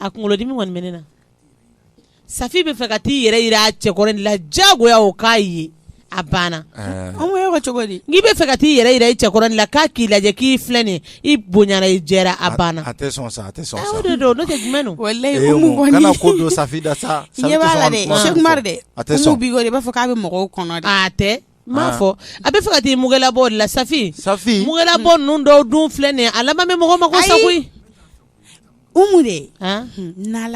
a kunkolodimi kɔni bɛ ne na Safi bɛ fɛ ka taa i yɛrɛ jira a cɛ kɔrɔ de la jagoya o k'a ye a banna cogo di n'i bɛ fɛ ka taa i yɛrɛ jira i cɛ kɔrɔ de la k'a k'i lajɛ k'i filɛ nin i bonyara i jɛra a banna a tɛ sɔn sa a tɛ sɔn sa i b'a fɔ k'a bɛ mɔgɔw kɔnɔ tɛ m'a fɔ a bɛ fɛ ka taa mugulabɔ de la Safi Safi mugulabɔ ninnu dɔw dun filɛ nin a laban bɛ mɔgɔ mako sa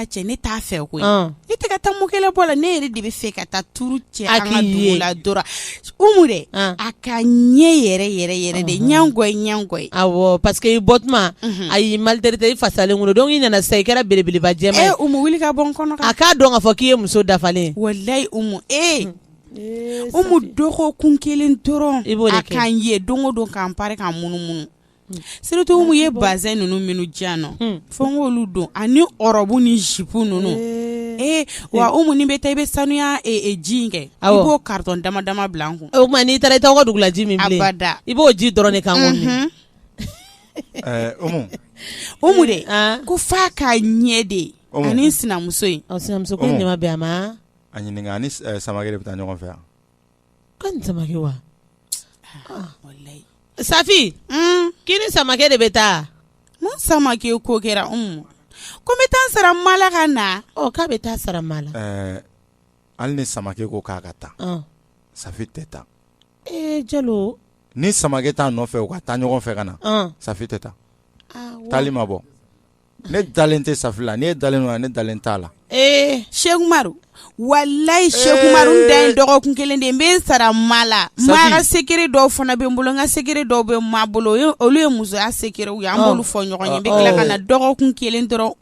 cɛ ne t'a fɛ koyi ne tɛ taa mugulabɔ la ne yɛrɛ de bɛ fɛ ka taa tuuru cɛ a ɲɛ yɛrɛ yɛrɛ yɛrɛ de ɲkɔ ɲkɔ parce que i bɔ tuma a y'i maltraité i fasalen don i nana sa i kɛra belebeleba wuli ka bɔ kɔnɔ a k'a dɔn k'a fɔ k'i ye muso dafalen walayi e ko dɔgɔkun kelen dɔrɔn i b'o k' ye don o don k'an pare k'an munumunu Surtout Umu ye bazin ninnu minnu dila nɔ fo n k'olu don ani ɔrɔbu ni zipu ninnu ee wa Umu ni n bɛ taa i bɛ sanuya ji in kɛ i b'o carton dama dama bila n kun o tuma n'i taara i t'aw ka dugu la ji min abada i b'o ji dɔrɔn de kan Umu de ko f'a ka ɲɛ de ye ani sinamuso sinamuso ɲuman bɛ a ma a ɲininka a ni Samakɛ de bɛ taa ɲɔgɔn fɛ yan wa safi k'i ni samakɛ de bɛ taa samakɛ ko kɛra mun ko n bɛ taa sara ma la ka na k'a bɛ taa sara ma la hali ni samakɛ ko k'a ka taa safi tɛ taa e jalo ni samakɛ t'a nɔfɛ u ka taa ɲɔgɔn fɛ ka na safi tɛ taa taali ma bɔ ne dalen tɛ safi la ne dalen don ne dalen t'a la ee seku umaru walayi seku umaru da ye dɔgɔkun kelen de n bɛ sara ma la ma ka sekere dɔw fana bɛ n bolo n ka sekere dɔw bɛ ma bolo olu ye musoya sekerew ye an b'olu fɔ ɲɔgɔn ye n bɛ tila ka na dɔgɔkun kelen dɔrɔn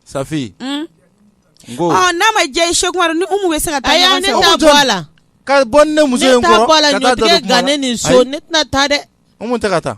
safi n'a ma diya seku umaru ni umu bɛ se ka taa ɲɔgɔn fɛ ne ta bɔ a la ka bɔ ne muso ne tɛna taa dɛ umu tɛ ka taa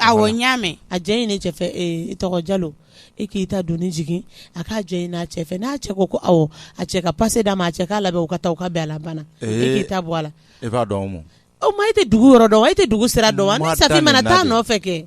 awɔ n y'a mɛn a jɛn ɲini i cɛ fɛ i tɔgɔ jalo e k'i ta doni jigin a k'a jɛn ɲini a cɛ fɛ n'a cɛ ko ko awɔ a cɛ ka pase d'a ma a cɛ k'a labɛn u ka taa u ka bɛn a la banna i k'i ta bɔ a la e b'a dɔn o ma e tɛ dugu yɔrɔ dɔn wa e tɛ dugu sira dɔn wa ni safi mana taa nɔfɛ kɛ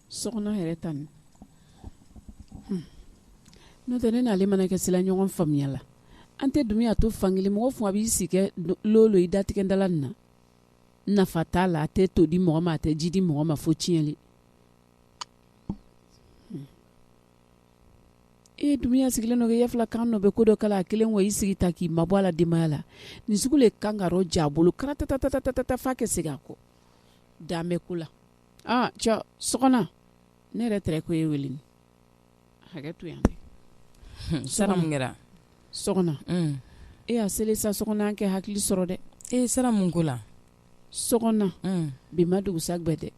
Sɔkɔna yɛrɛ ta n'o tɛ ne n'ale mana kɛ se la ɲɔgɔn faamuya la an tɛ dumuya to fan kelen mɔgɔ fu a b'i si kɛ don i datigɛdala na nafa t'a la a tɛ to di mɔgɔ ma a tɛ ji di mɔgɔ ma fo tiɲɛli e dumuya sigilen don ya fila kan dɔ bɛ ko dɔ kala a kelen wa i sigi ta k'i mabɔ a la denbaya la nin sugu de kan ka ja bolo karatatatatatatafa kɛ segin a kɔ dan bɛ ko la aa cɛ sɔkɔna ne yɛrɛ tɛrɛ ko e wele hakɛ to yan sara mun kɛra sɔkɔna e y'a seli sa sɔkɔna an kɛ hakili sɔrɔ dɛ e ye sara mun ko la sɔkɔna bi ma dugusa gbɛ dɛ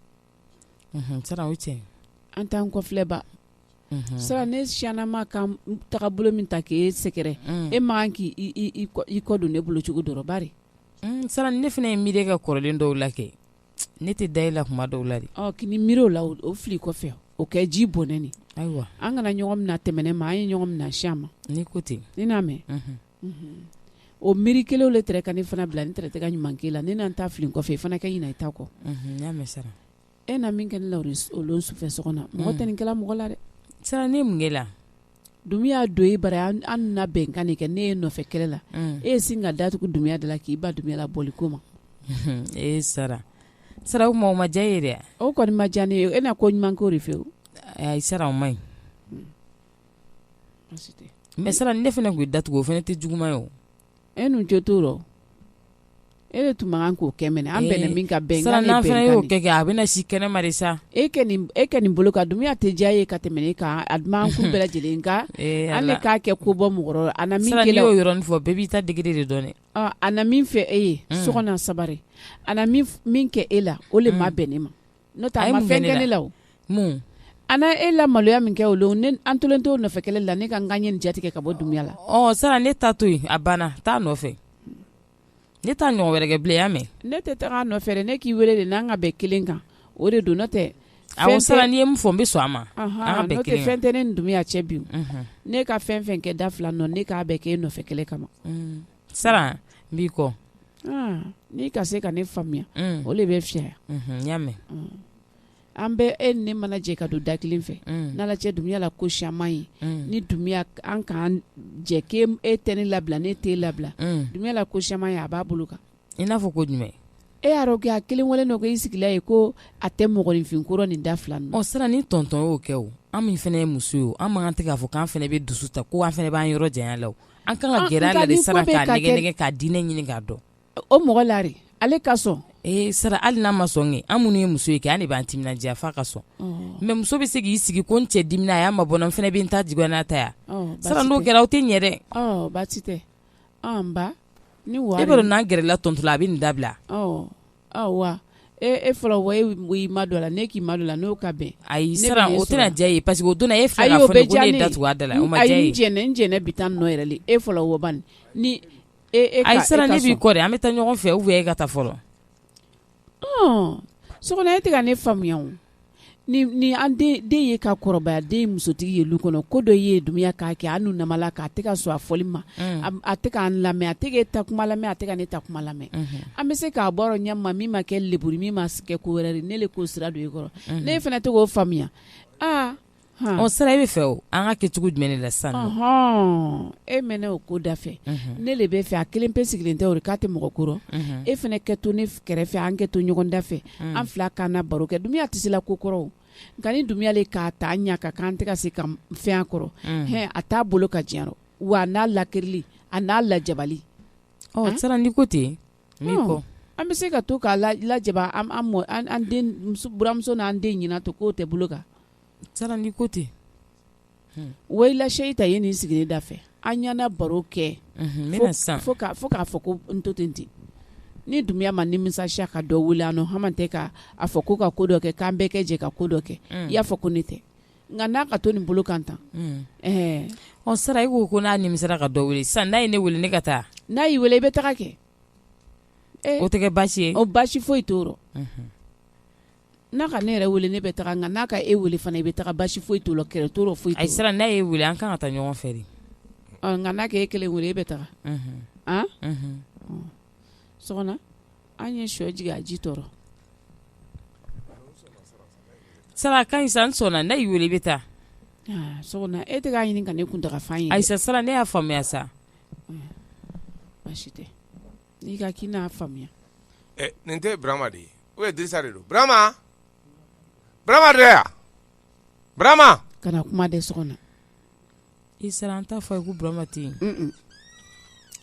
sara o cɛ an t'an kɔfilɛ ba sara ne siyannama ka taga bolo min ta k'e sɛgɛrɛ e man kan k'i kɔ don ne bolo cogo dɔrɔn bari sara ne fana ye miiri kɛ kɔrɔlen dɔw la kɛ Ne tɛ da e la kuma dɔw la de k'i ni miiri o la o fili kɔfɛ o kɛ ji bɔnɛ nin ayiwa an kana ɲɔgɔn mina tɛmɛnen ma an ye ɲɔgɔn mina siyan ma ni ko ten ni n'a mɛn o miiri kelenw de tɛrɛ ka ne fana bila n tɛrɛ tɛ ka ɲuman k'e la ne na n ta fili kɔfɛ i fana ka ɲina i ta kɔ e na min kɛ ne la o lon sufɛ sɔkɔna mɔgɔ tɛ nin kɛla mɔgɔ la dɛ sara ne mun kɛ la dumuya don e bara an na bɛnkan de kɛ ne ye nɔfɛ kɛlɛ la e ye sin ka datugu dumuya de la k'i ban dumuya labɔli ko ma e sara sara o ma diya n ye dɛ o kɔni ma diya ne ye e na ko ɲuman k'o de fɛ o ayi sara o ma ɲi mɛ sara ne fana tun ye datugu o fana ne tɛ juguman ye o e nu jo t'o rɔ e de tun man kan k'o kɛ mɛnɛ an bɛnna min kan bɛnkan ye bɛnkan de ye sisan n'an fana y'o kɛ kɛ a bɛna si kɛnɛ ma de sa e kɛ nin e kɛ nin bolo kan dumuya tɛ diya e ye ka tɛmɛ ne kan a duman kun bɛɛ lajɛlen nka ee an de Ala k'a kɛ ko bɔ mɔgɔ rɔ a na min sisan kɛ n'i la y'o yɔrɔnin fɔ bɛɛ b'i ta degré de dɔn dɛ ɔ, a na min fɛ e ye sɔkɔna sabari a na min f- min kɛ e la o le ma bɛn ne ma n'o tɛ a ma fɛn kɛ ne la o, mun, a na e la maloya min kɛ o don ne an tolen t'o nɔfɛ kɛlɛ la ne ka n ka ɲɛ in jatigɛ ka bɔ Dunbiya la, ɔ sisan ne ta to yen a banna taa nɔfɛ ne t'a ɲɔgɔn wɛrɛ kɛ bilen i y'a mɛn, ne tɛ taga a nɔfɛ dɛ ne k'i wele de n'an ka bɛn kelen kan o de don n'o tɛ awɔ sara n'i ye min fɔ n bɛ sɔn a ma an ka bɛn kelen kan, n'o tɛ fɛn tɛ ne ni Dunbiya cɛ bi o, unhun, ne ka fɛn o fɛn kɛ da fila nɔ ne k'a bɛɛ kɛ e nɔfɛ kɛlɛ kama sara n b'i kɔ n'i ka se ka ne faamuya o de bɛ fi y'a mɛn an bɛ e ni ne mana jɛ ka don da kelen fɛ n' cɛ Dunbiya la ko siyaman ye ni Dunbiya an ka jɛ e tɛ ne labila ne t'e labila Dunbiya la ko siyaman ye a b'a bolo kan i n'a fɔ ko jumɛn e y'a dɔn kɛ a kelen wale dɔ ko i sigila ye ko a tɛ mɔgɔninfin ko rɔ nin da fila ɔ sara ni tɔntɔn y'o kɛ o an min fana ye muso ye an man kan tɛ k'a fɔ k'an fana bɛ dusu ta ko an fana b'an yɔrɔ janya a la An kan ka gɛrɛ a la de sara k'a diinɛ ɲini k'a dɔn o mɔgɔ lari ale ka sɔn ee sara hali n'a ma sɔn kɛ an minnu ye muso ye kɛ an de b'an timinandiya f'a ka sɔn mais muso bɛ se k'i sigi ko n cɛ dimina a y'a mabɔ n fana bɛ n ta juguya n'a ta ye sara n'o kɛra aw tɛ ɲɛ dɛ baasi tɛ ni wa n'an gɛrɛla tɔntɔn la a bɛ nin dabila ayiwa e fɔlɔ wa i madon a la ne k'i madon a la n'o ka bɛn ayi sara o tɛna diya a ye parce que o don na e filɛ k'a fɔ ne ko ne ye da tugu a da la o ma diya a ye n jɛnɛ bɛ taa nɔ yɛrɛ e fɔlɔ wa bani ayi sara ne b'i kɔ dɛ an bɛ taa ɲɔgɔn fɛ ou bien e ka taa fɔlɔ so kɔnɔ e tɛ ka ne faamuya ni an den ye ka kɔrɔbaya an den ye musotigi ye lu kɔnɔ ko dɔ ye Dunbiya k'a kɛ an nu nama la k'a tɛ ka sɔn a fɔli ma a tɛ k'an lamɛn a tɛ ka e ta kuma lamɛn a tɛ ka ne ta kuma lamɛn an bɛ se k'a bɔ ɲɛma min ma kɛ leburi min ma kɛ ko wɛrɛ ne le k'o sira don e kɔrɔ ne fana tɛ k'o faamuya ɔ sara e b'a fɛ o an ka kɛ cogo jumɛn ne la sa e mɛn ne o ko da fɛ ne le b'a fɛ a kelen pe sigilen tɛ o k'a tɛ mɔgɔ ko rɔ e fana kɛ to ne kɛrɛfɛ an kɛ to ɲɔgɔn da fɛ an fila k'an na baro kɛ Dunbiya tɛ se la ko kɔrɔ nka ni Dunbiya le k'a ta ɲɛ ka k'an tɛ ka se ka fɛn a kɔrɔ h a t'a bolo ka diɲɛ wa n'a lakirili a n'a lajabali ɔ sara n'i ko ten n b'i kɔ an bɛ se ka to k'a lajaba an buranmuso n'an den ɲɛna to k'o tɛ bolo kan sara n'i ko ten voilà seyi ta ye n'i sigi ne da fɛ an ye na baro kɛ san fo k'a fɔ ko n to ten ten ni Dunbiya ma nimisa ka dɔ wele an nu hama tɛ k'a fɔ ko ka ko dɔ kɛ k'an bɛɛ kɛ jɛ ka ko dɔ kɛ i y'a fɔ ko ne tɛ Nka n'a ka to nin bolo kan tan ɔ sara i ko ko n'a nimisara ka dɔ wele san n'a ye ne wele ne ka taa n'a y'i weele i bɛ taga kɛ o tɛ basi ye o basi foyi t'o rɔ n'a ka ne yɛrɛ wele ne bɛ taga nka n'a ka e weele fana i bɛ taga basi foyi t'o rɔ kɛlɛ t'o rɔ foyi ayi sara n'a y'e weele an kan ka taa ɲɔgɔn fɛ de nka n'a ka e kelen weele e bɛ taga an ye shɔ jigin a ji t'o rɔ sara ka ɲi sa n sɔnna n'a y'i weele i bɛ taa sɔgɔna e tɛ k'a ɲini ka ne kuntaga fan ye ayi sa sara ne y'a faamuya sa baasi tɛ n'i ka k'i n'a faamuya nin tɛ burama de ye o ye dirisa de don burama burama de yan burama kana kuma dɛ sɔgɔna i sara an t'a fɔ a ye ko burama tɛ yen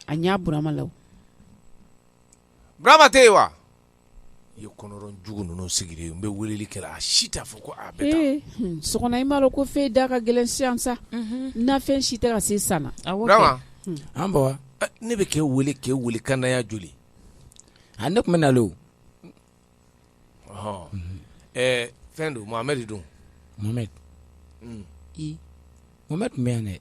a ɲa burama la Burama tɛ yen wa i ye kɔnɔrɔjugu ninnu sigilen n bɛ weleli kɛla a si t'a fɔ ko sɔgɔna i m'a dɔn ko fɛn da ka gɛlɛn sisan sa nafɛn si tɛ ka se san na an ba ne bɛ k'e weele k'e weele kandaya joli a ne tun bɛ nalen oɔ ɛɛ fɛn don mohamɛdi don mohamɛdi mohamɛdi tun bɛ yan dɛ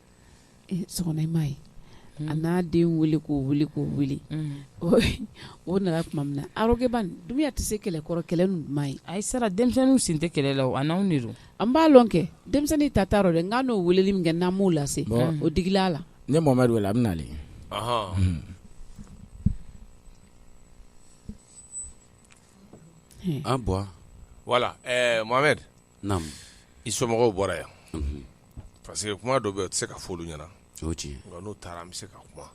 m'a ye mm. a n'a den weele k'o weele k'o weele mm. o nana tuma min na a rɔgɛ ban dumbuya tɛ se kɛlɛkɔrɔ kɛlɛ ninnu ma ye ayi sara denmisɛnninw sen tɛ kɛlɛ la a n'anw de don an b'a lɔn kɛ denmisɛnnin ta t'a rɔ dɛ nka n'o weeleli min kɛ n'an m'o lase o digila a la ne mohamɛdi weele a bɛ nalen an bon voilà ɛɛ mohamɛdi i somɔgɔw bɔra yan parce que kuma dɔ bɛ yen o tɛ se ka fɔ olu ɲɛna n'u taara an bɛ se ka kuma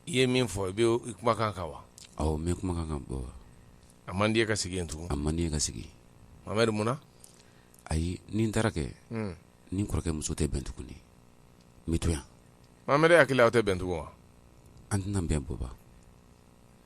i ye min fɔ i bɛ i kumakan kan wa awɔ n bɛ kumakan kan bɔ a man di n ye ka sigi yen tugun a man di n ye ka sigi mohamɛdi munna ayi ni n taara kɛ ni n kɔrɔkɛ muso tɛ bɛn tuguni n bɛ to yan mohamɛdi e hakili la aw tɛ bɛn tugun wa an tɛna bɛn baba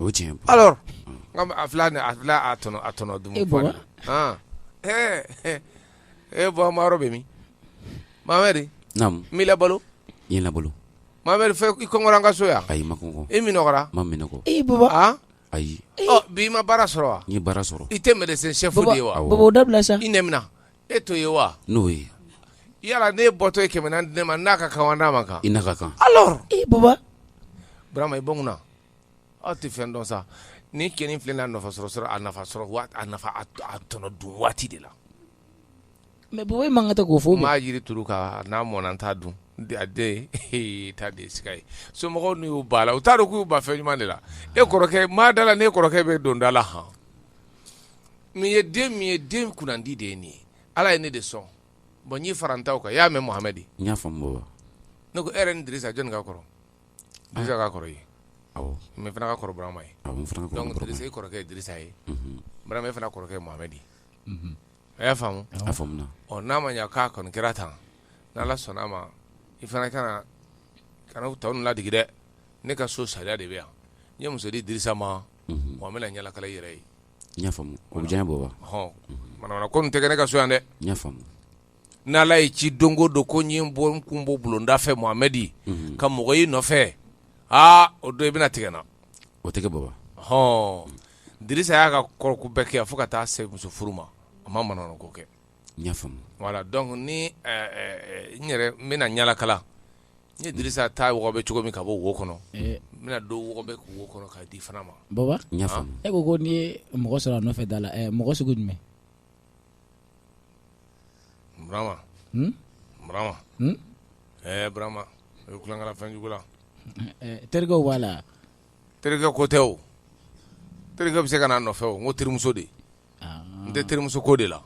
o ye tiɲɛ ye, alors a filɛ a tɔnɔ a tɔnɔ dumu e Baba, han, ɛɛ e Baba maro bɛ min Mohamɛdi, naamu, n b'i labalo, i ye n labalo, Mohamɛdi fɔ i kɔngɔra an ka so yan, ayi n ma kɔngɔ, i minɔgɔra, n ma minɔgɔ, e Baba, an, ayi, ɔ bi i ma baara sɔrɔ wa, n ye baara sɔrɔ, i tɛ médecin chef de ye wa, awɔ, Baba o dabila sa, i nɛ minɛ, e t'o ye wa, n'o ye, yala n'e bɔtɔ ye kɛmɛ naani di ne ma n n'a ka kan wa n n'a man kan, i n'a ka kan, alors, e Baba, Burama i bɔ n kunna Aw tɛ fɛn dɔn sa ni kɛ in filɛ nafa sɔrɔ sɔrɔ a nafa sɔrɔ tɔnɔ dun waati de la mais Baba e man kan tɛ k'o fɔ maa jiri turu nka n'a mɔna n t'a dun ta de ye somɔgɔw n'u y'u ban a la u t'a dɔn k'u y'u ban fɛn ɲuman de la e kɔrɔkɛ maa da la n'e kɔrɔkɛ bɛ don da la h n ye den min ye den kunnandi de ye nin ye ala ye ne de sɔn bon n y'i fara n taw kan i y'a mɛn Mohamɛdi n y'a faamu Baba ne ko e yɛrɛ ni Dirisa jɔnni ka kɔrɔ Bi ka kɔrɔ ye ne fana ka kɔrɔ Burama ye kɔrɔkɛ ye Dirisa ye Burama e fana kɔrɔkɛ ye Mohamɛdi a y'a faamu ɔ n'a ma k'a kɔni kɛra tan n' ala sɔnna a ma i fana ka kana tɔ ninnu ladigi dɛ ne ka so sariya de bɛ yan n ye muso di Dirisa ma wa n bɛna ɲalakala i yɛrɛ ye ko nin tɛ kɛ ne ka so yan dɛ n'Ala ye ci don o don ko n bɛ n kun bɔ bulonda fɛ Mohamɛdi ka mɔgɔ y'i nɔfɛ aa o don i bɛna tigɛ n na o tɛ kɛ baba hɔn Dirisa y'a ka kɔrɔko bɛɛ kɛ fo ka taa se muso furu ma a ma manamana ko kɛ voilà donc ni n yɛrɛ n bɛna ɲalakala n ye Dirisa ta wɔgɔbɛ cogo min ka bɔ wo kɔnɔ n bɛna dɔ wɔgɔbɛ wo kɔnɔ k'a di fana ma baba e ko ko n'i ye mɔgɔ sɔrɔ a nɔfɛ da la mɔgɔ sugu jumɛn Burama hun Burama hun ɛɛ Burama i bɛ kulonkɛ la fɛn jugu la ɛ terikɛw b'a la wa terikɛ ko tɛ o terikɛ bɛ se ka na a nɔfɛ o n ko terimuso de n tɛ terimuso ko de la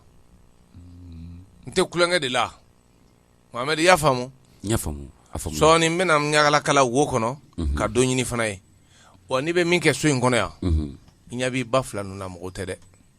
n tɛ kulonkɛ de la Mohamɛdi i y'a faamu n y'a faamu a faamu sɔɔni n bɛna n ɲagalakala wo kɔnɔ ka dɔ ɲini fana ye wa n'i bɛ min kɛ so in kɔnɔ yan i ɲɛ b'i ba fila ninnu na mɔgɔw tɛ dɛ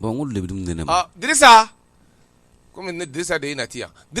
Bon n ko de bɛ ne ne ma di kɔmi ne disa de ye nati yan di